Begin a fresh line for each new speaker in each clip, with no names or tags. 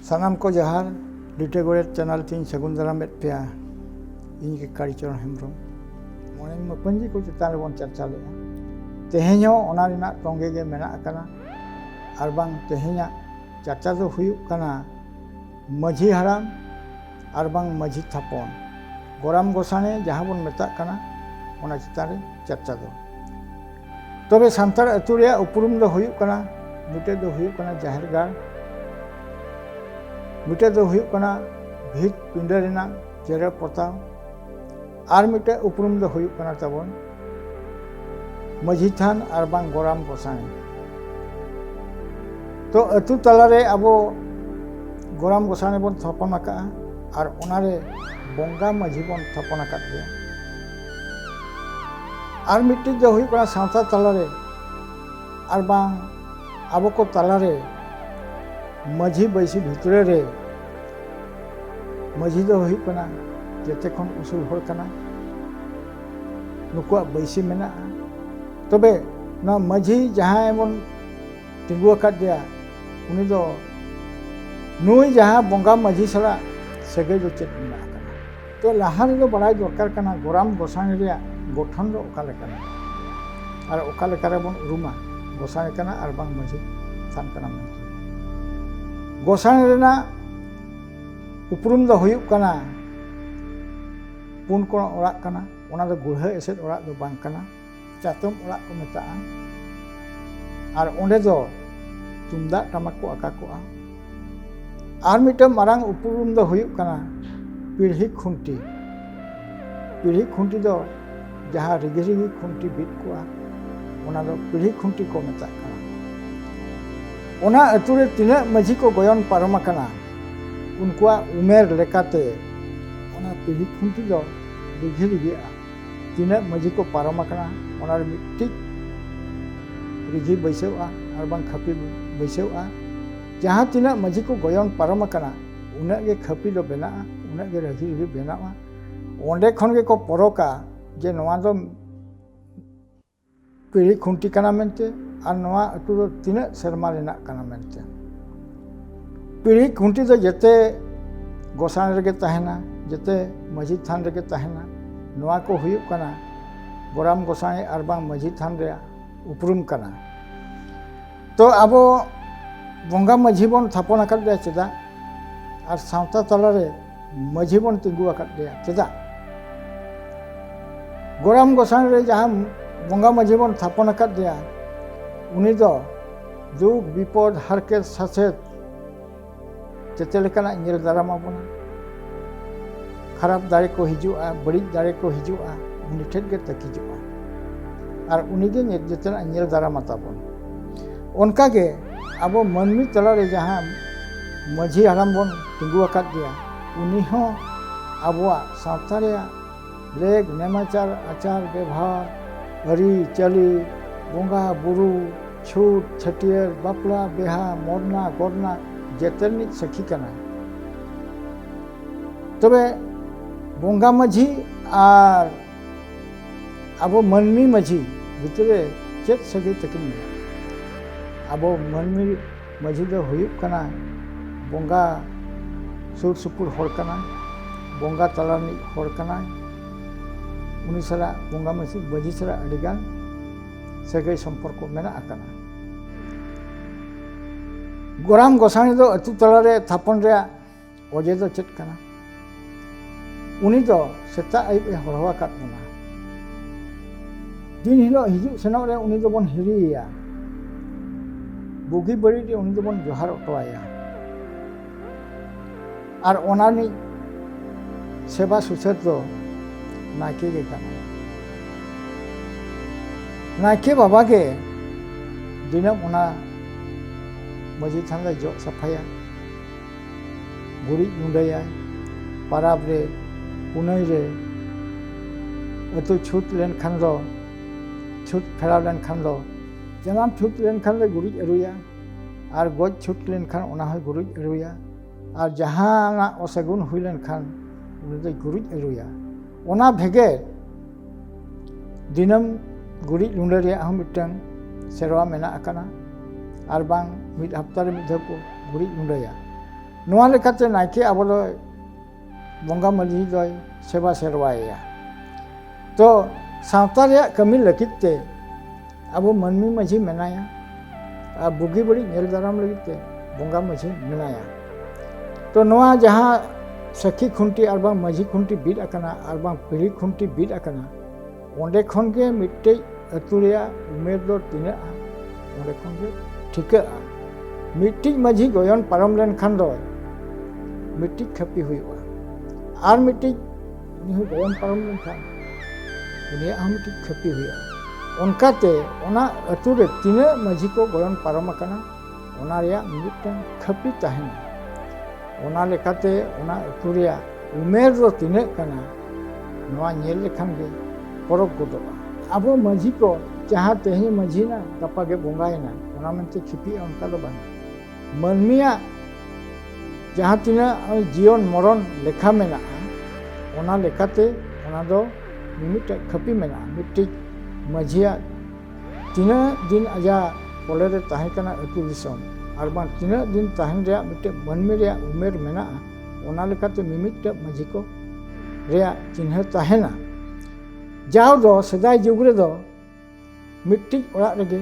ᱥᱟᱱᱟᱢ ᱠᱚ ᱡᱟᱦᱟᱨ ᱞᱤᱴᱟᱹ ᱜᱚᱲᱮᱛ ᱪᱮᱱᱮᱞ ᱛᱤᱧ ᱥᱟᱹᱜᱩᱱ ᱫᱟᱨᱟᱢᱮᱫ ᱯᱮᱭᱟ ᱤᱧ ᱜᱮ ᱠᱟᱲᱤᱪᱚᱨᱚᱱ ᱦᱮᱢᱵᱨᱚᱢ ᱢᱚᱬᱮ ᱢᱟᱯᱟᱹᱧᱡᱤ ᱠᱚ ᱪᱮᱛᱟᱱ ᱨᱮᱵᱚᱱ ᱪᱟᱨᱪᱟ ᱞᱮᱫᱼᱟ ᱛᱮᱦᱮᱧ ᱦᱚᱸ ᱚᱱᱟ ᱨᱮᱱᱟᱜ ᱛᱚᱸᱜᱮ ᱜᱮ ᱢᱮᱱᱟᱜ ᱟᱠᱟᱱᱟ ᱟᱨ ᱵᱟᱝ ᱛᱮᱦᱮᱧᱟᱜ ᱪᱟᱨᱪᱟ ᱫᱚ ᱦᱩᱭᱩᱜ ᱠᱟᱱᱟ ᱢᱟᱹᱡᱷᱤ ᱦᱟᱲᱟᱢ ᱟᱨ ᱵᱟᱝ ᱢᱟᱹᱡᱷᱤ ᱛᱷᱟᱯᱚᱱ ᱜᱚᱨᱟᱢ ᱜᱚᱥᱟᱬᱮ ᱡᱟᱦᱟᱸ ᱵᱚᱱ ᱢᱮᱛᱟᱜ ᱠᱟᱱᱟ ᱚᱱᱟ ᱪᱮᱛᱟᱱ ᱨᱮ ᱪᱟᱨᱪᱟ ᱫᱚ ᱛᱚᱵᱮ ᱥᱟᱱᱛᱟᱲ ᱟᱹᱛᱩ ᱨᱮᱭᱟᱜ ᱩᱯᱨᱩᱢ ᱫᱚ ᱦᱩᱭᱩᱜ ᱠᱟᱱᱟ ᱢᱤᱫᱴᱮᱡ ᱫᱚ ᱦᱩᱭᱩᱜ ᱠᱟᱱᱟ ᱡᱟᱦᱮᱨ ᱜᱟᱲ ᱢᱤᱫᱴᱮᱡ ᱫᱚ ᱦᱩᱭᱩᱜ ᱠᱟᱱᱟ ᱵᱷᱤᱛ ᱯᱤᱸᱰᱟᱹ ᱨᱮᱱᱟᱜ ᱡᱮᱨᱮᱲ ᱯᱚᱛᱟᱣ ᱟᱨ ᱢᱤᱫᱴᱮᱡ ᱩᱯᱨᱩᱢ ᱫᱚ ᱦᱩᱭᱩᱜ ᱠᱟᱱᱟ ᱛᱟᱵᱚᱱ ᱢᱟᱹᱡᱷᱤ ᱛᱷᱟᱱ ᱟᱨ ᱵᱟᱝ ᱜᱚᱨᱟᱢ ᱜᱚᱥᱟᱬᱮ ᱛᱚ ᱟᱹᱛᱩ ᱛᱟᱞᱟᱨᱮ ᱟᱵᱚ ᱜᱚᱨᱟᱢ ᱜᱚᱥᱟᱬᱮ ᱵᱚᱱ ᱛᱷᱟᱯᱚᱱ ᱟᱠᱟᱫᱼᱟ ᱟᱨ ᱚᱱᱟᱨᱮ ᱵᱚᱸᱜᱟ ᱢᱟᱹᱡᱷᱤ ᱵᱚᱱ ᱛᱷᱟᱯᱚᱱ ᱟᱠᱟᱫ ᱜᱮᱭᱟ ᱟᱨ ᱢᱤᱫᱴᱤᱡ ᱫᱚ ᱦᱩᱭᱩᱜ ᱠᱟᱱᱟ ᱥᱟᱶᱛᱟ ᱛᱟᱞᱟᱨᱮ ᱟᱨ ᱵᱟᱝ ᱟᱵᱚ ᱠᱚ ᱛᱟᱞᱟᱨᱮ ᱢᱟᱹᱡᱷᱤ ᱵᱟᱹᱭᱥᱤ ᱵᱷᱤᱛᱨᱤ ᱨᱮ ᱢᱟᱹᱡᱷᱤ ᱫᱚ ᱦᱩᱭᱩᱜ ᱠᱟᱱᱟ ᱡᱚᱛᱚ ᱠᱷᱚᱱ ᱩᱥᱩᱞ ᱦᱚᱲ ᱠᱟᱱᱟ ᱱᱩᱠᱩᱣᱟᱜ ᱵᱟᱹᱭᱥᱤ ᱢᱮᱱᱟᱜᱼᱟ ᱛᱚᱵᱮ ᱱᱚᱣᱟ ᱢᱟᱹᱡᱷᱤ ᱡᱟᱦᱟᱸᱭ ᱵᱚᱱ ᱛᱤᱸᱜᱩ ᱟᱠᱟᱫᱮᱭᱟ ᱩᱱᱤ ᱫᱚ ᱱᱩᱭ ᱡᱟᱦᱟᱸ ᱵᱚᱸᱜᱟ ᱢᱟᱹᱡᱷᱤ ᱥᱟᱞᱟᱜ ᱥᱟᱹᱜᱟᱹᱭ ᱫᱚ ᱪᱮᱫ ᱢᱮᱱᱟᱜᱼᱟ ᱛᱚ ᱞᱟᱦᱟ ᱨᱮᱫᱚ ᱵᱟᱲᱟᱭ ᱫᱚᱨᱠᱟᱨ ᱠᱟᱱᱟ ᱜᱚᱨᱟᱢ ᱜᱚᱥᱟᱬᱮ ᱨᱮᱭᱟᱜ ᱜᱚᱴᱷᱚᱱ ᱫᱚ ᱚᱠᱟ ᱞᱮᱠᱟᱱᱟ ᱟᱨ ᱚᱠᱟ ᱞᱮᱠᱟ ᱨᱮᱵᱚᱱ ᱩᱨᱩᱢᱟ ᱜᱚᱥᱟᱬᱮ ᱠᱟᱱᱟ ᱟᱨ ᱵᱟᱝ ᱢᱟᱹᱡᱷᱤ ᱛᱷᱟᱱ ᱠᱟᱱᱟ ᱢᱮᱱᱛᱮ ᱜᱚᱥᱟᱬᱮ ᱨᱮᱱᱟᱜ ᱩᱯᱨᱩᱢ ᱫᱚ ᱦᱩᱭᱩᱜ ᱠᱟᱱᱟ ᱯᱩᱱ ᱠᱚᱬ ᱚᱲᱟᱜ ᱠᱟᱱᱟ ᱚᱱᱟ ᱫᱚ ᱜᱩᱲᱦᱟᱹ ᱮᱥᱮᱫ ᱚᱲᱟᱜ ᱫᱚ ᱵᱟᱝ ᱠᱟᱱᱟ ᱪᱟᱛᱚᱢ ᱚᱲᱟᱜ ᱠᱚ ᱢᱮᱛᱟᱜᱼᱟ ᱟᱨ ᱚᱸᱰᱮ ᱫᱚ ᱛᱩᱢᱫᱟᱜ ᱴᱟᱢᱟᱠ ᱠᱚ ᱟᱠᱟ ᱠᱚᱜᱼᱟ ᱟᱨ ᱢᱤᱫᱴᱟᱝ ᱢᱟᱨᱟᱝ ᱩᱯᱨᱩᱢ ᱫᱚ ᱦᱩᱭᱩᱜ ᱠᱟᱱᱟ ᱯᱤᱲᱦᱤ ᱠᱷᱩᱱᱴᱤ ᱯᱤᱲᱦᱤ ᱠᱷᱩᱱᱴᱤ ᱫᱚ ᱡᱟᱦᱟᱸ ᱨᱤᱜᱤ ᱨᱤᱜᱤ ᱠᱷᱩᱱᱴᱤ ᱵᱤᱫ ᱠᱚᱜᱼᱟ ᱚᱱᱟ ᱫᱚ ᱯᱤᱲᱦᱤ ᱠᱷᱩᱱᱴᱤ ᱠᱚ ᱢᱮᱛᱟᱜ ᱠᱟᱱᱟ ᱚᱱᱟ ᱟᱹᱛᱩ ᱨᱮ ᱛᱤᱱᱟᱹᱜ ᱢᱟᱹᱡᱷᱤ ᱠᱚ ᱜᱚᱭᱚᱱ ᱯᱟᱨᱚᱢ ᱟᱠᱟᱱᱟ ᱩᱱᱠᱩᱣᱟᱜ ᱩᱢᱮᱨ ᱞᱮᱠᱟᱛᱮ ᱚᱱᱟ ᱯᱤᱲᱦᱤ ᱠᱷᱩᱱᱴᱤ ᱫᱚ ᱨᱤᱜᱷᱤ ᱨᱤᱜᱷᱤᱜᱼᱟ ᱛᱤᱱᱟᱹᱜ ᱢᱟᱹᱡᱷᱤ ᱠᱚ ᱯᱟᱨᱚᱢ ᱟᱠᱟᱱᱟ ᱚᱱᱟ ᱨᱮ ᱢᱤᱫᱴᱤᱡ ᱨᱤᱡᱷᱤ ᱵᱟᱹᱭᱥᱟᱹᱣᱜᱼᱟ ᱟᱨ ᱵᱟᱝ ᱠᱷᱟᱹᱯᱤ ᱵᱟᱹᱭᱥᱟᱹᱣᱜᱼᱟ ᱡᱟᱦᱟᱸ ᱛᱤᱱᱟᱹᱜ ᱢᱟᱹᱡᱷᱤ ᱠᱚ ᱜᱚᱭᱚᱱ ᱯᱟᱨᱚᱢ ᱟᱠᱟᱱᱟ ᱩᱱᱟᱹᱜ ᱜᱮ ᱠᱷᱟᱹᱯᱤ ᱫᱚ ᱵᱮᱱᱟᱜᱼᱟ ᱩᱱᱟᱹᱜ ᱜᱮ ᱨᱟᱹᱡᱷᱤ ᱨᱤᱦᱤ ᱵᱮᱱᱟᱜᱼᱟ ᱚᱸᱰᱮ ᱠᱷᱚᱱ ᱜᱮᱠᱚ ᱯᱚᱨᱚᱠᱟ ᱡᱮ ᱱᱚᱣᱟ ᱫᱚ ᱯᱤᱲᱦᱤ ᱠᱷᱩᱱᱴᱤ ᱠᱟᱱᱟ ᱢᱮᱱᱛᱮ ᱟᱨ ᱱᱚᱣᱟ ᱟᱹᱛᱩ ᱫᱚ ᱛᱤᱱᱟᱹᱜ ᱥᱮᱨᱢᱟ ᱨᱮᱱᱟᱜ ᱠᱟᱱᱟ ᱢᱮᱱᱛᱮ ᱯᱤᱲᱦᱤ ᱠᱷᱩᱱᱴᱤ ᱫᱚ ᱡᱮᱛᱮ ᱜᱚᱥᱟᱬ ᱨᱮᱜᱮ ᱛᱟᱦᱮᱱᱟ ᱡᱮᱛᱮ ᱢᱟᱹᱡᱷᱤ ᱛᱷᱟᱱ ᱨᱮᱜᱮ ᱛᱟᱦᱮᱱᱟ ᱱᱚᱣᱟ ᱠᱚ ᱦᱩᱭᱩᱜ ᱠᱟᱱᱟ ᱜᱚᱨᱟᱢ ᱜᱚᱥᱟᱬᱮ ᱟᱨ ᱵᱟᱝ ᱢᱟᱹᱡᱷᱤ ᱛᱷᱟᱱ ᱨᱮᱭᱟᱜ ᱩᱯᱨᱩᱢ ᱠᱟᱱᱟ ᱛᱚ ᱟᱵᱚ ᱵᱚᱸᱜᱟ ᱢᱟᱹᱡᱷᱤ ᱵᱚᱱ ᱛᱷᱟᱯᱚᱱ ᱟᱠᱟᱫᱮᱭᱟ ᱪᱮᱫᱟᱜ ᱟᱨ ᱥᱟᱶᱛᱟ ᱛᱟᱞᱟᱨᱮ ᱢᱟᱹᱡᱷᱤ ᱵᱚᱱ ᱛᱤᱸᱜᱩ ᱟᱠᱟᱫ ᱜᱮᱭᱟ ᱪᱮᱫᱟᱜ ᱜᱚᱨᱟᱢ ᱜᱚᱥᱟᱱ ᱨᱮ ᱡᱟᱦᱟᱸ ᱵᱚᱸᱜᱟ ᱢᱟᱹᱡᱷᱤ ᱵᱚᱱ ᱛᱷᱟᱯᱚᱱ ᱟᱠᱟᱫ ᱜᱮᱭᱟ ᱩᱱᱤ ᱫᱚ ᱫᱩᱠ ᱵᱤᱯᱚᱫ ᱦᱟᱨᱠᱮᱛ ᱥᱟᱥᱮᱛ ᱡᱮᱛᱮ ᱞᱮᱠᱟᱱᱟᱜ ᱧᱮᱞ ᱫᱟᱨᱟᱢ ᱟᱵᱚᱱᱟ ᱠᱷᱟᱨᱟᱯ ᱫᱟᱲᱮ ᱠᱚ ᱦᱤᱡᱩᱜᱼᱟ ᱵᱟᱹᱲᱤᱡ ᱫᱟᱲᱮ ᱠᱚ ᱦᱤᱡᱩᱜᱼᱟ ᱩᱱᱤ ᱴᱷᱮᱱ ᱜᱮ ᱛᱟᱹᱠᱤᱡᱚᱜᱼᱟ ᱟᱨ ᱩᱱᱤᱜᱮ ᱡᱮᱛᱮᱱᱟᱜ ᱧᱮᱞ ᱫᱟᱨᱟᱢᱟ ᱛᱟᱵᱚᱱ ᱚᱱᱠᱟᱜᱮ ᱟᱵᱚ ᱢᱟᱹᱱᱢᱤ ᱛᱟᱞᱟᱨᱮ ᱡᱟᱦᱟᱸ ᱢᱟᱹᱡᱷᱤ ᱦᱟᱲᱟᱢ ᱵᱚᱱ ᱛᱤᱸᱜᱩ ᱟᱠᱟᱫ ᱜᱮᱭᱟ ᱩᱱᱤ ᱦᱚᱸ ᱟᱵᱚᱣᱟᱜ ᱥᱟᱶᱛᱟ ᱨᱮᱭᱟᱜ ᱞᱮᱠ ᱱᱮᱢᱟᱪᱟᱨ ᱟᱪᱟᱨ ᱵᱮᱵᱷᱟᱨ ᱟᱹᱨᱤ ᱪᱟᱹᱞᱤ ᱵᱚᱸᱜᱟ ᱵᱩᱨᱩ ᱪᱷᱩᱴ ᱪᱷᱟᱹᱴᱭᱟᱹᱨ ᱵᱟᱯᱞᱟ ᱵᱮᱦᱟ ᱢᱚᱨᱱᱟ ᱜᱚᱨᱱᱟ ᱡᱮᱛᱮ ᱨᱤᱱᱤᱡ ᱥᱟᱹᱠᱷᱤ ᱠᱟᱱᱟᱭ ᱛᱚᱵᱮ ᱵᱚᱸᱜᱟ ᱢᱟᱹᱡᱷᱤ ᱟᱨ ᱟᱵᱚ ᱢᱟᱹᱱᱢᱤ ᱢᱟᱹᱡᱷᱤ ᱵᱷᱤᱛᱨᱤ ᱨᱮ ᱪᱮᱫ ᱥᱟᱹᱜᱟᱹᱭ ᱛᱟᱹᱠᱤᱱ ᱢᱮᱱᱟᱜᱼᱟ ᱟᱵᱚ ᱢᱟᱹᱱᱢᱤ ᱢᱟᱹᱡᱷᱤ ᱫᱚ ᱦᱩᱭᱩᱜ ᱠᱟᱱᱟ ᱵᱚᱸᱜᱟ ᱥᱩᱨ ᱥᱩᱯᱩᱨ ᱦᱚᱲ ᱠᱟᱱᱟᱭ ᱵᱚᱸᱜᱟ ᱛᱟᱞᱟ ᱨᱤᱱᱤᱡ ᱦᱚᱲ ᱠᱟᱱᱟᱭ ᱩᱱᱤ ᱥᱟᱞᱟᱜ ᱵᱚᱸᱜᱟ ᱢᱟᱹᱡᱷᱤ ᱢᱟᱹᱡᱷᱤ ᱥᱟᱞᱟᱜ ᱟᱹᱰᱤᱜᱟᱱ ᱥᱟᱹᱜᱟᱹᱭ ᱥᱚᱢᱯᱚᱨᱠᱚ ᱢᱮᱱᱟᱜ ᱟᱠᱟᱫᱟ ᱜᱚᱨᱟᱢ ᱜᱚᱸᱥᱟᱬᱮ ᱫᱚ ᱟᱹᱛᱩ ᱛᱟᱞᱟᱨᱮ ᱛᱷᱟᱯᱚᱱ ᱨᱮᱭᱟᱜ ᱚᱡᱮ ᱫᱚ ᱪᱮᱫ ᱠᱟᱱᱟ ᱩᱱᱤ ᱫᱚ ᱥᱮᱛᱟᱜ ᱟᱹᱭᱩᱵ ᱮ ᱦᱚᱨᱦᱚ ᱟᱠᱟᱫ ᱵᱚᱱᱟ ᱫᱤᱱ ᱦᱤᱞᱳᱜ ᱦᱤᱡᱩᱜ ᱥᱮᱱᱚᱜ ᱨᱮ ᱩᱱᱤ ᱫᱚᱵᱚᱱ ᱦᱤᱨᱤᱭᱮᱭᱟ ᱵᱩᱜᱤ ᱵᱟᱹᱲᱤᱡ ᱨᱮ ᱩᱱᱤ ᱫᱚᱵᱚᱱ ᱡᱚᱦᱟᱨ ᱚᱴᱚᱣᱟᱭᱟ ᱟᱨ ᱚᱱᱟ ᱨᱤᱱᱤᱡ ᱥᱮᱵᱟ ᱥᱩᱥᱟᱹᱨ ᱫᱚ ᱱᱟᱭᱠᱮ ᱜᱮ ᱠᱟᱱᱟᱭ ᱱᱟᱭᱠᱮ ᱵᱟᱵᱟ ᱜᱮ ᱫᱤᱱᱟᱹᱢ ᱚᱱᱟ ᱢᱟᱺᱡᱷᱤ ᱛᱷᱟᱱ ᱫᱚᱭ ᱡᱚᱜ ᱥᱟᱯᱷᱟᱭᱟ ᱜᱩᱨᱤᱡ ᱜᱩᱸᱰᱟᱹᱭᱟ ᱯᱟᱨᱟᱵᱽ ᱨᱮ ᱯᱩᱱᱟᱹᱭ ᱨᱮ ᱟᱹᱛᱩ ᱪᱷᱩᱛ ᱞᱮᱱᱠᱷᱟᱱ ᱫᱚ ᱪᱷᱩᱛ ᱯᱷᱮᱨᱟᱣ ᱞᱮᱱᱠᱷᱟᱱ ᱫᱚ ᱡᱟᱱᱟᱢ ᱪᱷᱩᱛ ᱞᱮᱱᱠᱷᱟᱱ ᱞᱮ ᱜᱩᱨᱤᱡ ᱟᱹᱨᱩᱭᱟ ᱟᱨ ᱜᱚᱡ ᱪᱷᱩᱛ ᱞᱮᱱᱠᱷᱟᱱ ᱚᱱᱟ ᱦᱚᱸᱭ ᱜᱩᱨᱤᱡ ᱟᱹᱨᱩᱭᱟ ᱟᱨ ᱡᱟᱦᱟᱱᱟᱜ ᱚᱥᱟᱹᱜᱩᱱ ᱦᱩᱭ ᱞᱮᱱᱠᱷᱟᱱ ᱩᱱᱤ ᱫᱚᱭ ᱜᱩᱨᱤᱡ ᱟᱹᱨᱩᱭᱟ ᱚᱱᱟ ᱵᱷᱮᱜᱮᱫ ᱫᱤᱱᱟᱹᱢ ᱜᱩᱨᱤᱡ ᱞᱩᱰᱟᱹ ᱨᱮᱭᱟᱜ ᱦᱚᱸ ᱢᱤᱫᱴᱟᱝ ᱥᱮᱨᱣᱟ ᱢᱮᱱᱟᱜ ᱟᱠᱟᱫᱟ ᱟᱨ ᱵᱟᱝ ᱢᱤᱫ ᱦᱟᱯᱛᱟ ᱨᱮ ᱢᱤᱫ ᱫᱷᱟᱣ ᱠᱚ ᱜᱩᱨᱤᱡ ᱞᱩᱰᱟᱹᱭᱟ ᱱᱚᱣᱟ ᱞᱮᱠᱟᱛᱮ ᱱᱟᱭᱠᱮ ᱟᱵᱚ ᱫᱚ ᱵᱚᱸᱜᱟ ᱢᱟᱹᱡᱷᱤ ᱫᱚᱭ ᱥᱮᱵᱟ ᱥᱮᱨᱣᱟᱭᱮᱭᱟ ᱛᱚ ᱥᱟᱶᱛᱟ ᱨᱮᱭᱟᱜ ᱠᱟᱹᱢᱤ ᱞᱟᱹᱜᱤᱫ ᱛᱮ ᱟᱵᱚ ᱢᱟᱹᱱᱢᱤ ᱢᱟᱺᱡᱷᱤ ᱢᱮᱱᱟᱭᱟ ᱟᱨ ᱵᱩᱜᱤ ᱵᱟᱹᱲᱤᱡ ᱧᱮᱞ ᱫᱟᱨᱟᱢ ᱞᱟᱹᱜᱤᱫ ᱛᱮ ᱵᱚᱸᱜᱟ ᱢᱟᱺᱡᱷᱤ ᱢᱮᱱᱟᱭᱟ ᱛᱚ ᱱᱚᱣᱟ ᱡᱟᱦᱟᱸ ᱥᱟᱹᱠᱷᱤ ᱠᱷᱩᱱᱴᱤ ᱟᱨ ᱵᱟᱝ ᱢᱟᱺᱡᱷᱤ ᱠᱷᱩᱱᱴᱤ ᱵᱤᱫ ᱟᱠᱟᱱᱟ ᱟᱨ ᱵᱟᱝ ᱯᱤᱲᱦᱤ ᱠᱷᱩᱱᱴᱤ ᱵᱤᱫ ᱟᱠᱟᱱᱟ ᱚᱸᱰᱮ ᱠᱷᱚᱱ ᱜᱮ ᱢᱤᱫᱴᱮᱡ ᱟᱹᱛᱩ ᱨᱮᱭᱟᱜ ᱩᱢᱮᱨ ᱫᱚ ᱛᱤᱱᱟᱹᱜᱼᱟ ᱚᱸᱰᱮ ᱠᱷᱚᱱ ᱜᱮ ᱴᱷᱤᱠᱟᱹᱜᱼᱟ ᱢᱤᱫᱴᱤᱡ ᱢᱟᱺᱡᱷᱤ ᱜᱚᱭᱚᱱ ᱯᱟᱨᱚᱢ ᱞᱮᱱᱠᱷᱟᱱ ᱫᱚ ᱢᱤᱫᱴᱤᱡ ᱠᱷᱟᱹᱯᱤ ᱦᱩᱭᱩᱜᱼᱟ ᱟᱨ ᱢᱤᱫᱴᱤᱡ ᱩᱱᱤ ᱦᱚᱸ ᱜᱚᱭᱚᱱ ᱯᱟᱨᱚᱢ ᱞᱮᱱᱠᱷᱟᱱ ᱩᱱᱤᱭᱟᱜ ᱦᱚᱸ ᱢᱤᱫᱴᱤᱡ ᱠᱷᱚᱛᱤ ᱦᱩᱭᱩᱜᱼᱟ ᱚᱱᱠᱟᱛᱮ ᱚᱱᱟ ᱟᱹᱛᱩ ᱨᱮ ᱛᱤᱱᱟᱹᱜ ᱢᱟᱺᱡᱷᱤ ᱠᱚ ᱜᱚᱭᱚᱱ ᱯᱟᱨᱚᱢ ᱟᱠᱟᱱᱟ ᱚᱱᱟ ᱨᱮᱭᱟᱜ ᱢᱤᱫᱴᱟᱝ ᱠᱷᱟᱹᱯᱤ ᱛᱟᱦᱮᱱᱟ ᱚᱱᱟ ᱞᱮᱠᱟᱛᱮ ᱚᱱᱟ ᱟᱹᱛᱩ ᱨᱮᱭᱟᱜ ᱩᱢᱮᱨ ᱫᱚ ᱛᱤᱱᱟᱹᱜ ᱠᱟᱱᱟ ᱱᱚᱣᱟ ᱧᱮᱞ ᱞᱮᱠᱷᱟᱱ ᱜᱮ ᱯᱚᱨᱚᱵᱽ ᱜᱚᱫᱚᱜᱼᱟ ᱟᱵᱚ ᱢᱟᱺᱡᱷᱤ ᱠᱚ ᱡᱟᱦᱟᱸ ᱛᱮᱦᱮᱧ ᱢᱟᱺᱡᱷᱤᱭᱮᱱᱟ ᱜᱟᱯᱟ ᱜᱮ ᱵᱚᱸᱜᱟᱭᱮᱱᱟ ᱚᱱᱟ ᱢᱮᱱᱛᱮ ᱠᱷᱤᱯᱤᱜᱼᱟ ᱚᱱᱠᱟ ᱫᱚ ᱵᱟᱝ ᱢᱟᱹᱱᱢᱤᱭᱟᱜ ᱡᱟᱦᱟᱸ ᱛᱤᱱᱟᱹᱜ ᱡᱤᱭᱚᱱ ᱢᱚᱨᱚᱱ ᱞᱮᱠᱷᱟ ᱢᱮᱱᱟᱜᱼᱟ ᱚᱱᱟ ᱞᱮᱠᱟᱛᱮ ᱚᱱᱟ ᱫᱚ ᱢᱤᱢᱤᱫᱴᱮᱡ ᱠᱷᱟᱹᱯᱤ ᱢᱮᱱᱟᱜᱼᱟ ᱢᱤᱫᱴᱤᱡ ᱢᱟᱹᱡᱷᱤᱭᱟᱜ ᱛᱤᱱᱟᱹᱜ ᱫᱤᱱ ᱟᱡᱟᱜ ᱠᱚᱞᱮ ᱨᱮ ᱛᱟᱦᱮᱸ ᱠᱟᱱᱟ ᱟᱹᱛᱩ ᱫᱤᱥᱚᱢ ᱟᱨ ᱵᱟᱝ ᱛᱤᱱᱟᱹᱜ ᱫᱤᱱ ᱛᱟᱦᱮᱱ ᱨᱮᱭᱟᱜ ᱢᱤᱫᱴᱮᱡ ᱢᱟᱹᱱᱢᱤ ᱨᱮᱭᱟᱜ ᱩᱢᱮᱨ ᱢᱮᱱᱟᱜᱼᱟ ᱚᱱᱟ ᱞᱮᱠᱟᱛᱮ ᱢᱤᱢᱤᱫᱴᱮᱡ ᱢᱟᱹᱡᱷᱤ ᱠᱚ ᱨᱮᱭᱟᱜ ᱪᱤᱱᱦᱟᱹ ᱛᱟᱦᱮᱱᱟ ᱡᱟᱣ ᱫᱚ ᱥᱮᱫᱟᱭ ᱡᱩᱜᱽ ᱨᱮᱫᱚ ᱢᱤᱫᱴᱤᱡ ᱚᱲᱟᱜ ᱨᱮᱜᱮ